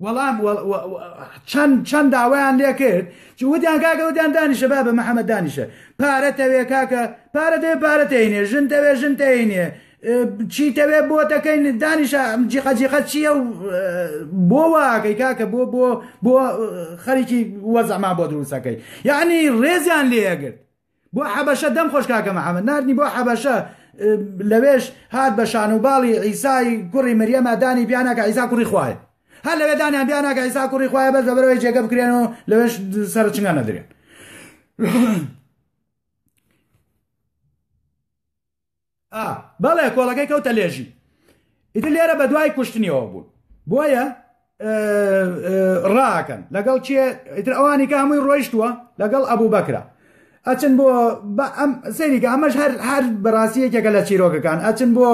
وەڵام، وە وە وە چەند چەند داوایان لێ کرد چ وتیان کاکە وتیان دانیشە بابە محەمەد دانیشە پارە تەوێ کاکە پارە دەوێ پارە تەینێ ژن تەوێ ژن تەینێ چی تەوێ بۆ تەکەین دانیشە جیقە جیقە چییە و بۆ واکەی کاکە بۆ بۆ بۆ خەریکی وەزعما بۆ دروستەکەی یعنی ڕێزیان لێگرت بۆ حەبەشە دەم خۆش کاکە محمد ناردنی بۆ حەبەشە لەوێش هات بە شان و باڵی عیسای کوڕی مریەمە دانی پیاناکە عیسا کوڕی خوای هەر لەوێ دانیان بیاناکە عیسا کوڕی خوای بەس بەبەرەوەی جێگە بکرێن و لەوێش سەرچنگە نەدرێن ئا بەڵێ کۆڵەکەی کەوتە لێژی ئیتر لێرە بە دوای کوشتنیەوە بوون بۆیە ڕاکەن لەگەڵ کێ ئیتر ئەوانی کە هەمووی ڕۆیشتووە لەگەڵ ئەبوو بەکرا ئەچن بۆ سەریکە ئەمەش هەر هەر بەڕاستی یەکێکە لە چیرۆکەکان ئەچن بۆ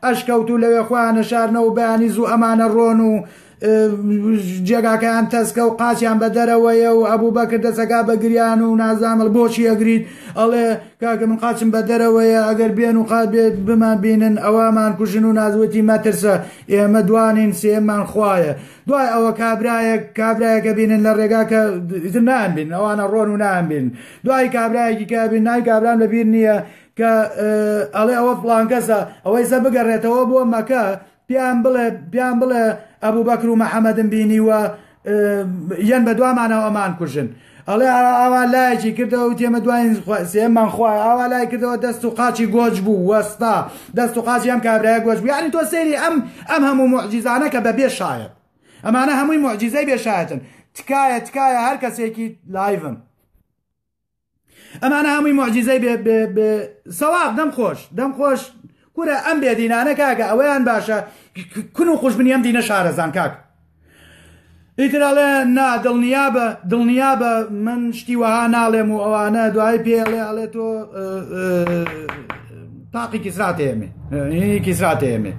ئەشکەوت و لەوێ خۆیانە شارنەوە بەیانی زوو ئەمانە ڕۆن و جێگاکەیان تەسکە و قاچیان بە دەرەوەیە و ئەبوو بەکر دەسەکە بە گریان و نازانمە بۆچی ئەگریت ئەڵێ کاکە من قاچم بە دەرەوەیە ئەگەر بێن و قات بێت بمان بینن ئەوەمان کوژن و نازوەتی مەترسە ئێمە دوانین سێمان خوایە دوای ئەوە کابراەک کابراەکە بینن لە ڕێگا کە نان بین ئەوانە ڕۆن و نان بین دوای کابراایکی کابین نای کابران لەبییر نییە کە ئەڵێ ئەوە فلانکەسە ئەوەی سە بگەڕێتەوە بۆ مەکە پێیان بڵێ پێیان بڵێ ئەبوو بەکر و محەمەدم بینیوە یەن بە دوامانەوە ئەمان کوژن ئەڵێ ئاوا لایەکی کردەوە و تێمە دوایین سێمان خوای ئاوا لای کردەوە دەست و قاچی گۆج بوو وەستا دەست و قاچی ئەم کابرای گۆج بوو یعنی تۆ سەیری ئەم ئەم هەموو معجززانە کە بە بێ شایەت ئەمانە هەمووی معجززەی بێشایەتن تکایە تکایە هەر کەسێکی لایڤم ئەمانە هەمووی معجززەی بێ بێ بێ سەواب دەم خۆش دەم خۆش کورە ئەم بێدینانە کاکە ئەوەیان باشە کون و خوشبنی ئەم دینە شارەزان کاک ئیتراڵێ نا دڵنیا بە دڵنیا بە من شتی وەها ناڵێم و ئەوانە دوای پێڵێ ئەڵێ تۆ تاقی کیسراتێمێ کیسراتێمێ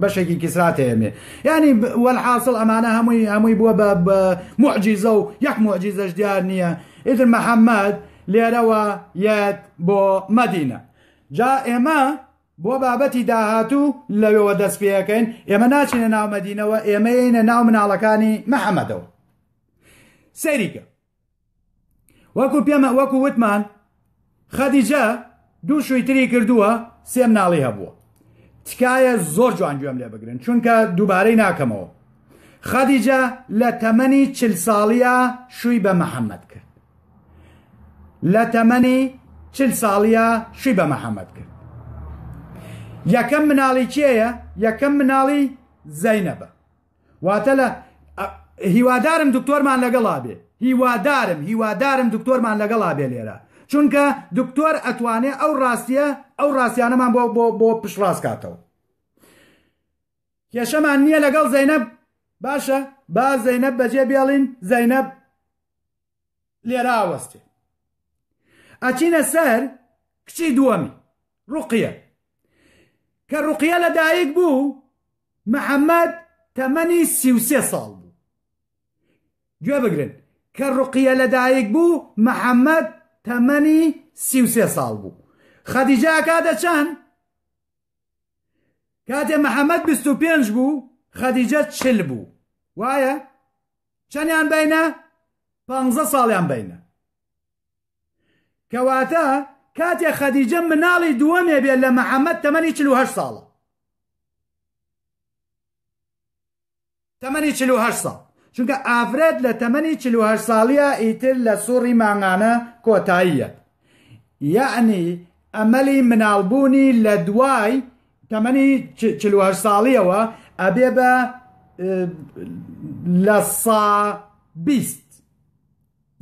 بەشێکی کیسراتێمێ یانی وەلحاسڵ ئەمانە هەمووی هەمووی بووە بە بە معجیزە و یەک معجیزەش دیار نییە ئیتر محەممەد لێرەوە یەت بۆ مەدینە جا ئێمە بۆ بابەتی داهاتوو لەوەوە دەست پێەکەین ئێمە ناچینە ناو مەدینەوە ئێمە یینە ناو مناڵەکانی محەممەدەوە سەریکە وەکو پێمە وەکو وتمان خەدیجە دوو شووی تری کردووە سێم ناڵی هەبووە تکایە زۆر جوان گوێم لێ بگرن چونکە دووبارەی ناکەمەوە خەدیجە لە تەمەنی چل ساڵیە شووی بە محەممەد کرد لە تەمەنی چل ساڵیە شووی بە محەممەد کرد یەکەم مناڵی کێیە یەکەم مناڵی زەینەبە واتە لە هیوادارم دکتۆرمان لەگەڵا بێ هیوادارم هیوادارم دکتۆرمان لەگەڵا بێ لێرە چونکە دکتۆر ئەتوانێ ئەو ڕاستیە ئەو ڕاستیانەمان بۆ بۆ بۆ پشڕاست کاتەوە کێشەمان نییە لەگەڵ زەینەب باشە با زەینەب بەجێ بێڵین زەینەب لێرە ئاوەستێ ئەچینە سەر کچی دووەمی ڕوقیە کە ڕوقیە لە دایک بوو محەممەد تەمەنی سیوسێ ساڵ بوو گوێ بگرن کە ڕقیە لەدایک بوو محەممەد تەمەنی سیوسێ ساڵ بوو خەدیجا کاتە چەند کاتێ محەممەد پێ بوو خەدیجە چل بوو وایە چەنیان بینە پانزە ساڵیان بینە کەواتە کاتێ خەدیجە مناڵی دووەمێ بێ لە محەممەد تەمەنی چه ساڵە تەمەنی چه ساڵ چونکە ئافرەت لە تەمەنی چه ساڵیە ئیتر لە سوڕی مانگانە کۆتاییە یعنی ئەمەلی مناڵبوونی لە دوای تەمەنی چل و هەشت ساڵیەوە ئەبێ بە لە سا بیست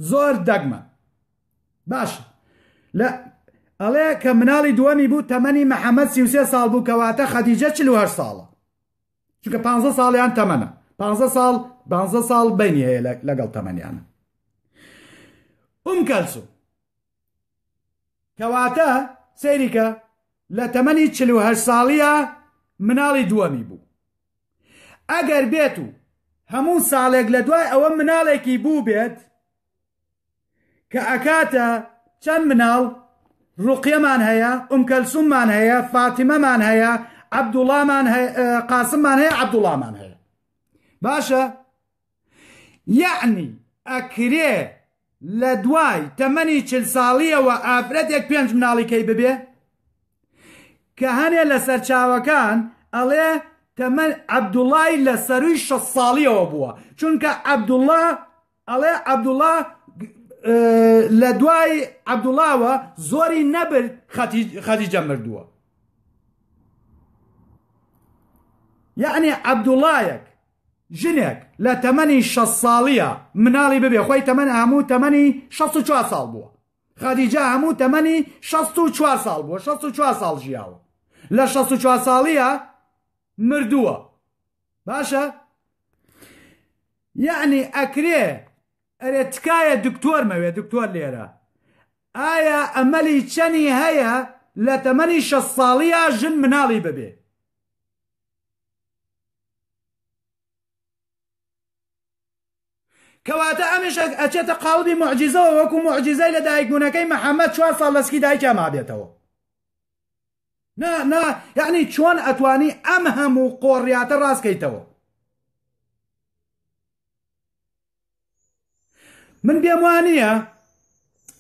زۆر دەگمە باش لە ئەڵێ کە مناڵی دووەمی بوو تەمەنی محەممەد سیوسێ ساڵ بوو کەواتە خەدیجە چل و هەشت ساڵە چونکە پ ساڵیان تەمەە پ ساڵ پ ساڵ بینی هەیە لەگەڵ تەمەنیانە ئوم کەلسو کەواتە سەیریکە لە تەمەنی چل و هەشت ساڵییا مناڵی دووەمی بوو ئەگەر بێت و هەموو ساڵێک لە دوای ئەوە مناڵێکی بوو بێت کە ئەکاتە چەند مناڵ ڕوقیەمان هەیە ئوم کەلسوممان هەیە فاتیمەمان هەیە عەبدوڵامان قاسممان هەیە عەبدوڵامان هەیە باشە یەعنی ئەکرێ لە دوای تەمەنی چل ساڵیەوە ئافرەتێک پێنج مناڵی کەی ببێ؟ کە هەنێ لە سەرچاوەکان ئەڵێ تەمەن عەبدوڵای لە سەروی شە ساڵیەوە بووە چونکە عەبدوڵا ئەڵێ عەبدوڵا لە دوای عەبدوڵاوە زۆری نەبرد خەدیجە مردووە یعنی عەبدوڵایەک ژنێک لە تەمەنی شەست ساڵیە مناڵی ببێ خۆی تەمەن هەموو تەمەنی شەست و چوار ساڵ بووە خەدیجە هەموو تەمەنی شەست و چوار ساڵ بووە شەست و چوار ساڵ ژیاوە لە شەست و چوار ساڵیە مردووە باشە یعنی ئەکرێ ئەرێ تکایە دکتۆر مەوێ دکتۆر لێرە ئایا ئەمەلی چەنی هەیە لە تەمەنی شە ساڵیە ژن مناڵی ببێ کەواتە ئەمیش ئەچێتە قاڵبی معجزەوە وەکو معجزەی لە دایکبوونەکەی محەممەد چوار ساڵ لەسکی دایکیا مابێتەوە نا نا یعنی چۆن ئەتوانی ئەم هەموو قۆڕیاتە ڕاستکەیتەوە من پێم وانە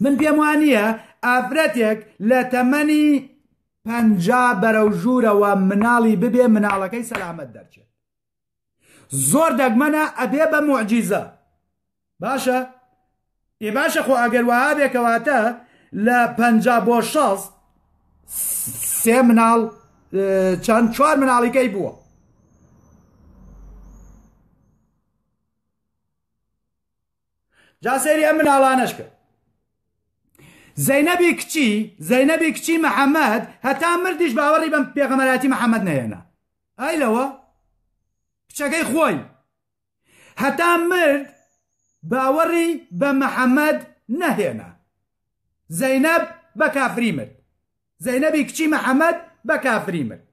من پێم وانە ئافرەتێک لە تەمەنی پ بەرەو ژوورەوە مناڵی ببێ مناڵەکەی سەلامەت دەرچێت زۆر دەگمەنە ئەبێ بە معجیزە باشە ئێ باشە خۆ ئەگەر وها بێکەواتە لە پ بۆ شەست سێ مناڵ چەند چوار مناڵیکەی بووە جا سەیری ئەم مناڵانەش کە زەینەبی کچی زەینەبی کچی محەممەد هەتا مردیش باوەڕی بەم پێغەمەراتی محەممەد نەهێنا ئای لەوە کچەکەی خۆی هەتا مرد باوەڕی بە محەممەد نەهێنا زەینەب بە کافری مرد زەینەبی کچی محەمەد بە کافری مرد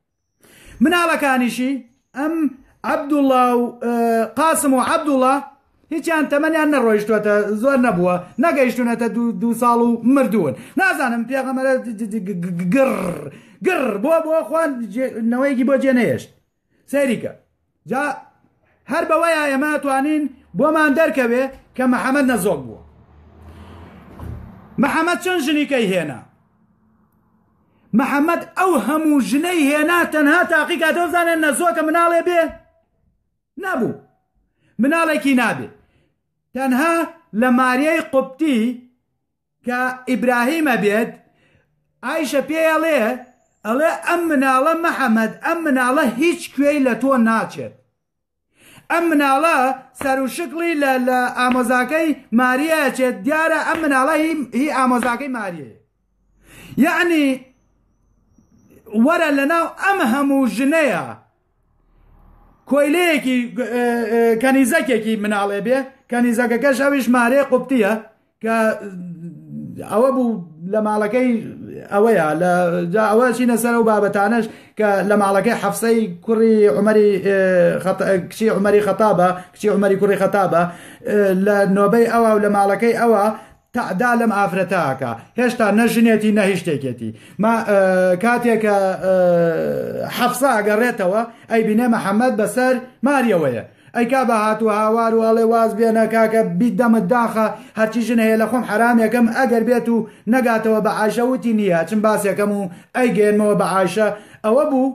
مناڵەکانیشی ئەم عەبدوڵا و قاسم و عەبدوڵا هیچیان تەمەنیان نەڕۆیشتوەتە زۆر نەبووە نەگەیشتونەتە دو ساڵ و مردوون نازانم پێغەمەرە گڕ گڕ بۆ بۆ خوان نەوەیەکی بۆ جێ نەهێشت سەیریکە جا هەر بەوەیە ئێمە توانین بۆمان دەرکەوێ کە محەممەد نەزۆک بووە محەممەد چەند ژنیکەی هێنا محەممەد ئەو هەموو ژنەی هێنا تەنها تاقیکا دەزانێت نەزۆکە مناڵێ بێ نەبوو مناڵێکی نابێ تەنها لە ماریای قوپتی کە ئیبراهیم ئەبێت ئایشە پێی ئەڵێ ئەڵێ ئەم مناڵە مەحەمەد ئەم مناڵە هیچ کوێی لە تۆ ناچێت ئەم مناڵە سەر و شکڵی لە لە ئامۆزاکەی ماریە چێت دیارە ئەم مناڵە هی ئامۆزاکەی ماریە یعنی وەرە لە ناو ئەم هەموو ژنەیە کۆیلەیەکی کەنیزەکێکی مناڵێ بێ کەنیزەکەکەش ئەویش مارێ قوپتیە کە ئەوە بوو لە ماڵەکەی ئەوەیە لە ئەوە چینە سەر و بابەتانش کە لە ماڵەکەی حەفسەی کوڕی عمەری کچی عمەری خەتابە کچی عمەری کوڕی خەتابە لە نۆبەی ئەوە و لە ماڵەکەی ئەوە تەعدا لەم ئافرەتە ئەکا هێشتا نە ژنێتی نە هی شتێکێتی ما کاتێکە حەفسا ئەگەڕێتەوە ئەی بینێ محەممەد بەسەر ماریەوەیە ئەی کا بە هاتو هاوار و ئەڵێ واز بێنە کاکە بیت دەمت داخە هەرچی ژن هەیە لە خۆم حرامێکم ئەگەر بێت و نەگاتەوە بە عاشەوتی نییە چم باسێکەم و ئەی گەێنمەوە بە عاشە ئەوە بوو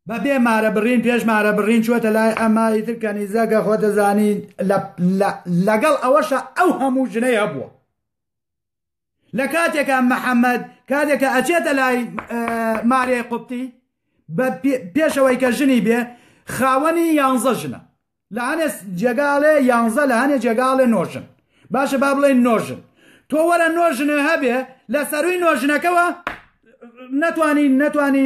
بە بێ مارە بڕین پێش مارە بڕین چوەتە لای ئەمە ئیتر کەنیزە کە خۆ دەزانی لەگەڵ ئەوەشە ئەو هەموو ژنەی هەبووە لە کاتێکە محەممەد کاتێکە ئەچێتە لای مارێ قوپتی بە پێشەوەی کە ژنی بێ خاوەنی یانزە ژنە لە هەنێ جێگاڵێ یانزە لە هەنێ جێگاڵێ نۆژن باشە با بڵێن نۆژن تۆ وەرە نۆژنێ هەبێ لە سەروی نۆژنەکەەوە نەتوانی نەتوانی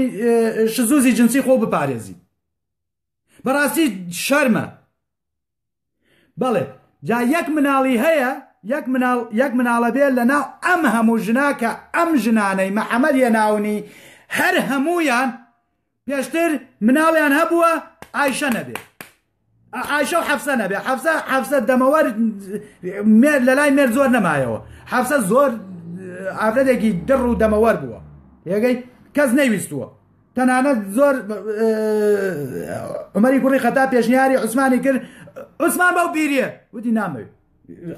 شزوزی جنسی خۆ بپارێزی بەڕاستی شەرمە بەڵێ جا یەک مناڵی هەیە یەک مناڵ یەک مناڵە بێ لە ناو ئەم هەموو ژناکە ئەم ژنانەی مەحەمەد یە ناونی هەر هەمویان پێشتر مناڵیان هەبووە ئایشە نەبێ ئایشە و حەفسە نەبێ حەفسە حەفسە دەمەوە مێر لە لای مێر زۆر نەمایەوە حەفسە زۆر ئافرەتێکی دڕ و دەمەوەەر بووە یەگەی کەس نەیویستووە تەنانەت زۆر عمەری کوڕی خەتا پێشنیاری عوسمانی کرد عوسمان بەو پیریە وتی نامەوێت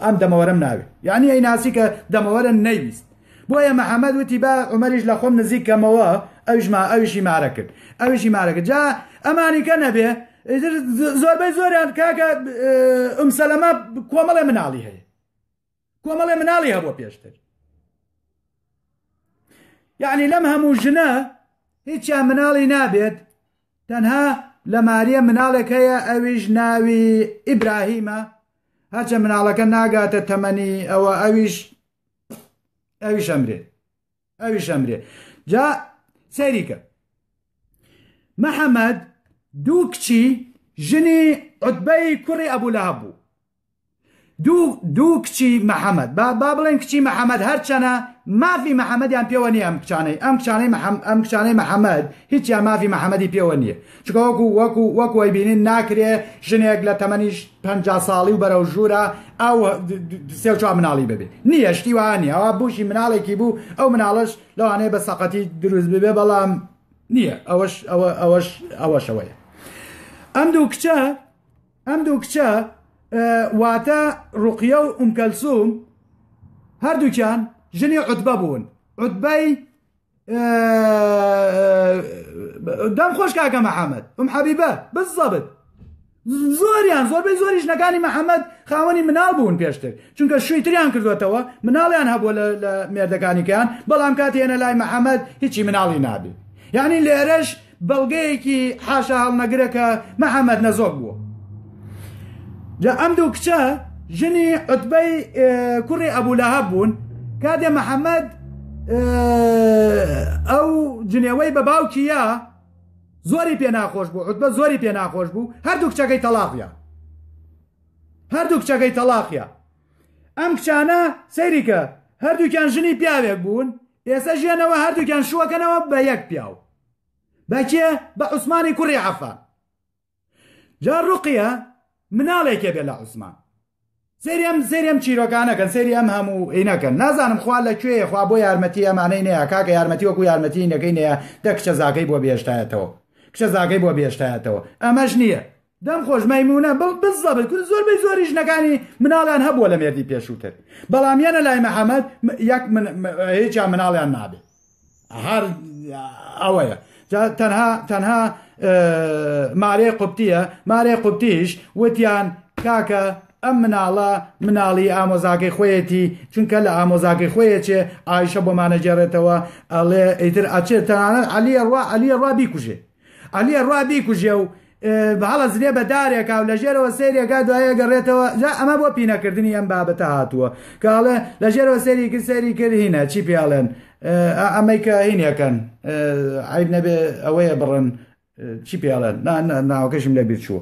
ئەم دەمەوەرم ناوێ یعنی ئەی ناسی کە دەمەوەرە نەیویست بۆیە محەممەد وتی با عمەریش لە خۆم نزیک کەمەوە ئەویشما ئەویشی مارە کرد ئەویشی مارەکە جا ئەمانیکە نەبێ زۆربەی زۆریان کاکە ئەم سەلەمە کۆمەڵێ مناڵی هەیە کۆمەڵێ مناڵی هەبوو پێشتر یعنی لەم هەموو ژنە هیچیان مناڵی نابێت تەنها لە ماریە مناڵێک هەیە ئەویش ناوی ئیبراهیمە هەرچە مناڵەکە ناگاتە تەمەنی ئەوە ئەویش ئەویش ئەمرێ ئەویش ئەمرێ جا سەریکە محەممەد دوو کچی ژنی عوتبەی کوڕی ئەبوو لە هەبوو دوو دوو کچی محەمەد با با بڵێن کچی محەمەد هەرچەنە مافی محەمەدیان پێوە نیە ئەم کچانەی ئەم کچانەی ئەم کچانەی محەمەد هیچیان مافی محەمەدی پێوە نییە چکە وەکو وەکو وەکوی بینین ناکرێ ژنێک لە تەمەنیش پ ساڵی و بەرەو ژوورە ئەو سێ چوار مناڵی ببێ نییە شتی وانە ئەوە بوشی مناڵێکی بوو ئەو مناڵش لەوانەیە بە سەقەتی دروست ببێ بەڵام نییە ئەوەش ئەوە ئەوەش ئەوەشەوەیە ئەم دوو کچە ئەم دوو کچە واتە ڕوقیە و ئومکەلسوم هەردووکیان ژنی عوتبە بوون عوتبەی دەم خۆش کاکە محەممەد ئەم حەبیبە بزەبت زۆریان زۆربەی زۆری ژنەکانی محەممەد خاوەنی مناڵ بوون پێشتر چونکە شووی تریان کردوێتەوە مناڵیان هەبووە لە مێردەکانیکەیان بەڵام کاتێنە لای محەممەد هیچی مناڵی نابێت یعنی لێرەش بەڵگەیەکی حاشاهەڵنەگرە کە محەمەد نەزۆک بووە جا ئەم دوو کچە ژنی عوتبەی کوڕی ئەبولەهەب بوون کاتێ محەممەد ئەو جنێوەی بە باوکیە زۆری پێ ناخۆش بوو عوتبە زۆری پێ ناخۆش بوو هەردوو کچەکەی تەلاقە هەردوو کچەکەی تەلاقە ئەم کچانە سەیریکە هەردووکیان ژنی پیاوێک بوون ئێسە ژیانەوە هەردووکیان شووەکەنەوە بە یەک پیاو بە کێ بە عوسمانی کوڕی عەفان جا ڕوقیە مناڵێکێ بێ لە عوسمان سریام سریام چیرۆکانەکەن سری ئەم هەموو ئینەکەن نازانم خوا لە کوێ خوا بۆ یارمەتی ئەمانەی نەیە کاکە یارمەتی وەکو یارمەتی نەکەی نەیە دە کچە زاکەی بۆ بێشتایەتەوە کچە زاکەی بۆ بێشتایەتەوە ئەمەش نییە دەم خۆش مەیمونە بڵ بزەبت کورد زۆر بەی زۆری ژنەکانی مناڵیان هەبووە لە مێردی پێشووتر بەڵام یەنە لای محەممەد یەک هیچیان مناڵیان نابێ هەر ئەوەیە تەنها تەنها مارێ قوپتیە مارێ قوپتیش وتیان کاکە ئەم مناڵە مناڵی ئامۆزاکەی خۆیەتی چونکە لە ئامۆزاکەی خۆیەچێ ئایشە بۆمانەگەێڕێتەوە ئەڵێ ئیتر ئەچێت تەنانەت علیە ڕوا علیە ڕوا بیکوژێ عەلی ئەڕوا بیکوژێ و بهڵەسرێ بە دارێکا و لە ژێرەوە سەیرێکا دوایە گەڕێتەوە جا ئەمە بۆ پینەکردنی ئەم بابەتە هاتووە کە ئەڵێ لە ژێرەوە سەیری کرد سەیری کرد هینە چی پێڵێن ئەمەی کە هینەکەن عیب نەبێ ئەوەیە بڕن چی پێڵێن ناوەکەشم لە بیر چووە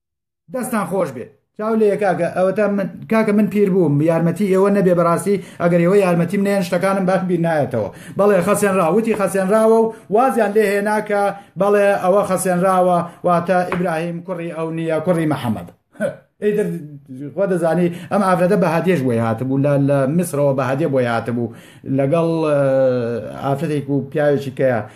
دەستان خۆش بێ چاو لێ کاکە ئەوەتا کاکە من پیر بووم یارمەتی ئێوە نەبێ بەڕاستی ئەگەر ئێوە یارمەتیم نێن شتەکانم باش بیر نایەتەوە بەڵێ خەسێنرا وتی خەسێنراوە و وازیان لێ هێناکە بەڵێ ئەوە خەسێنراوە واتە ئیبراهیم کوڕی ئەو نییە کوڕی محەممەد ئیدر خۆ دەزانی ئەم ئافرەتە بە هادێش بۆی هاتبوو لە لە میسرەوە بە هادێ بۆی هاتبوو لەگەڵ ئافرەتێک و پیاوێکی کەیە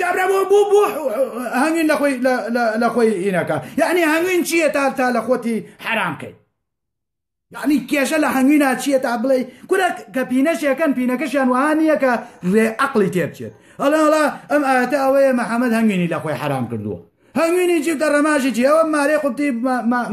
گابرا بۆ بوو بوو هەنگین لە خۆی لە خۆی ئینەکە یعنی هەنگین چییە تا تا لە خۆتی حرام کەی یعنی کێشە لە هەنگوینا چییە تا بڵێ کورە کە پینەشێکەن پینەکەشیان وها نییە کە ڕێ عقلی تێبچێت ئەڵێڵا ئەم ئاەتە ئەوەیە محەممەد هەنگینی لە خۆی حرام کردووە هەنگوینی جیب دە ڕەماژی جی ئەوە مارێ قوبتی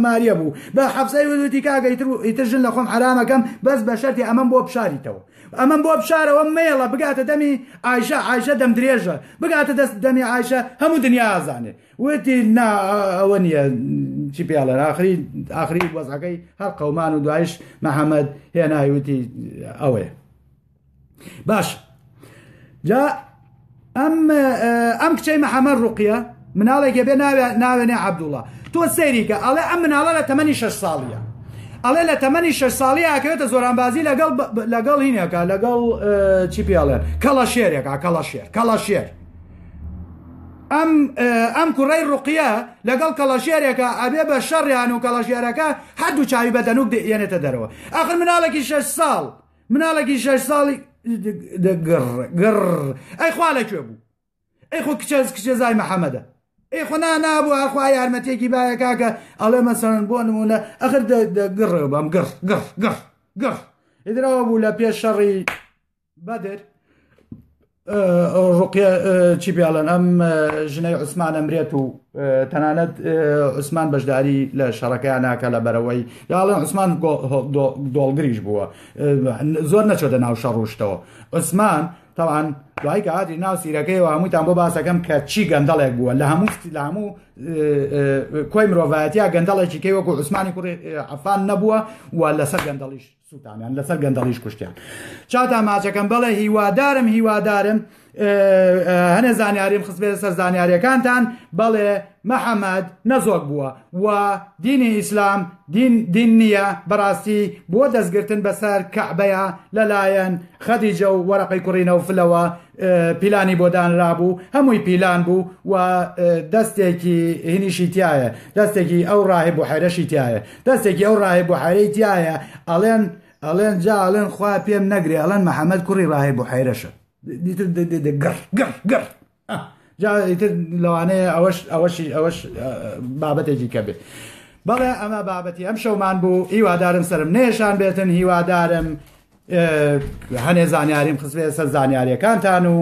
ماریە بوو بە حەفزای وەدوتی کاگە ئیتر ژن لە خۆم حرامەکەم بەس بە شەرتی ئەمەم بۆ بشاریتەوە ئەمەم بۆ بشارەوە مێڵە بگاتە دەمی ئایشە ئایشە دەم درێژە بگاتە دەست دەمی ئایشە هەموو دنیا ئازانێ وتی نا ئەوە نییە چی پێڵێن ئاخری ئاخری وەزەکەی هەر قەومان و دوایش محەممەد هێنای وتی ئەوەیە باش جا ئەم ئەم کچەی محەممەد ڕوقیە مناڵێکێ بێ ناوێنێ عبدوڵە تۆ سەیریکە ئەڵێ ئەم مناڵە لە تەمەنی شش ساڵیە ئەڵێ لە تەمەنی شش ساڵی ئاکرێتە زۆرانبازی لەگەڵ لەگەڵ هینێکە لەگەڵ چی پێڵێن کەڵە شێرێکا کەڵە شێر کەڵە شێر ئەم ئەم کوڕی ڕقیە لەگەڵ کەڵەشێرێکە ئەبێ بە شەڕیان و کەڵەشێرەکە هەردوو چاوی بە دەنوک دێنێتە دەرەوە ئەخر مناڵێکی شش ساڵ مناڵێکی شەش ساڵی گڕ گڕ ئەی خوا لە کوێ بوو ئەی خۆ کچەز کچێزای محەممەدە ئەی خۆنا نابوو ئاخوا یارمەتێکی باە کاکە ئەڵێ مەسەن بۆ نمونە ئەخر گڕ بەم گڕ گڕ گڕ گڕ ئیدرەوە بوو لە پێش شەڕی بەدر ڕوقیە چی پێڵێن ئەم ژنەی عوسمان ئەمرێت و تەنانەت عوسمان بەشداری لە شەڕەکەیان ناکە لە بەرەوەی یاڵێن عوسمان دۆڵگریش بووە زۆر نەچۆتە ناو شەڕوشتەوە عوسمان تاوان دوای کە هاتی ناو سیرەکەی و هەمووتان بۆ باسەکەم کە چی گەندەڵێک بووە لە هەموو لە هەموو کۆی مرۆڤایەتیا گەندەڵێکی کەی وەکو عوسمانی کوڕی عفان نەبووە و لەسەر گەندەڵیش سوتانیان لەسەر گەندەڵیش کوشتیان چاتا ماچەکەم بەڵێ هیوادارم هیوادارم هەنێ زانیاریم خستبێت سەر زانیاریەکانتان بەڵێ محەممەد نەزۆک بووە و دینی ئیسلام دین نییە بەڕاستی بۆ دەستگرتن بەسەر کەعبەیە لەلایەن خەدیجە و وەرەقی کوڕینەوە فلەوە پیلانی بۆ دانرابوو هەمووی پیلان بوو و دەستێکی هینیشی تایە دەستێکی ئەو ڕاهێ بۆ حەرەشی تایە دەستێکی ئەو ڕاهێ بۆ حەرەی تایە ئەڵێن ئەڵێن جا ئەڵێن خوا پێم نەگرێ ئەڵەن محەممەد کوڕی ڕاهێ بۆ حەیرەشە گڕ گڕ گڕ جاتر لەوانەیە ئەوەش ئەوەشی ئەوەش بابەتێکی کە بێت بەڵێ ئەمە بابەتی ئەم شەومان بوو هیوادارم سرم نێشان بێتن هیوادارم هەنێ زانیاریم خستبێتە سەر زانیاریەکانتان و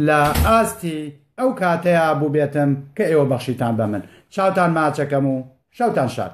لە ئاستی ئەو کاتەیە بووبێتم کە ئێوە بەخشیتان بە من چاوتان ماچەکەم و شەوتان شاد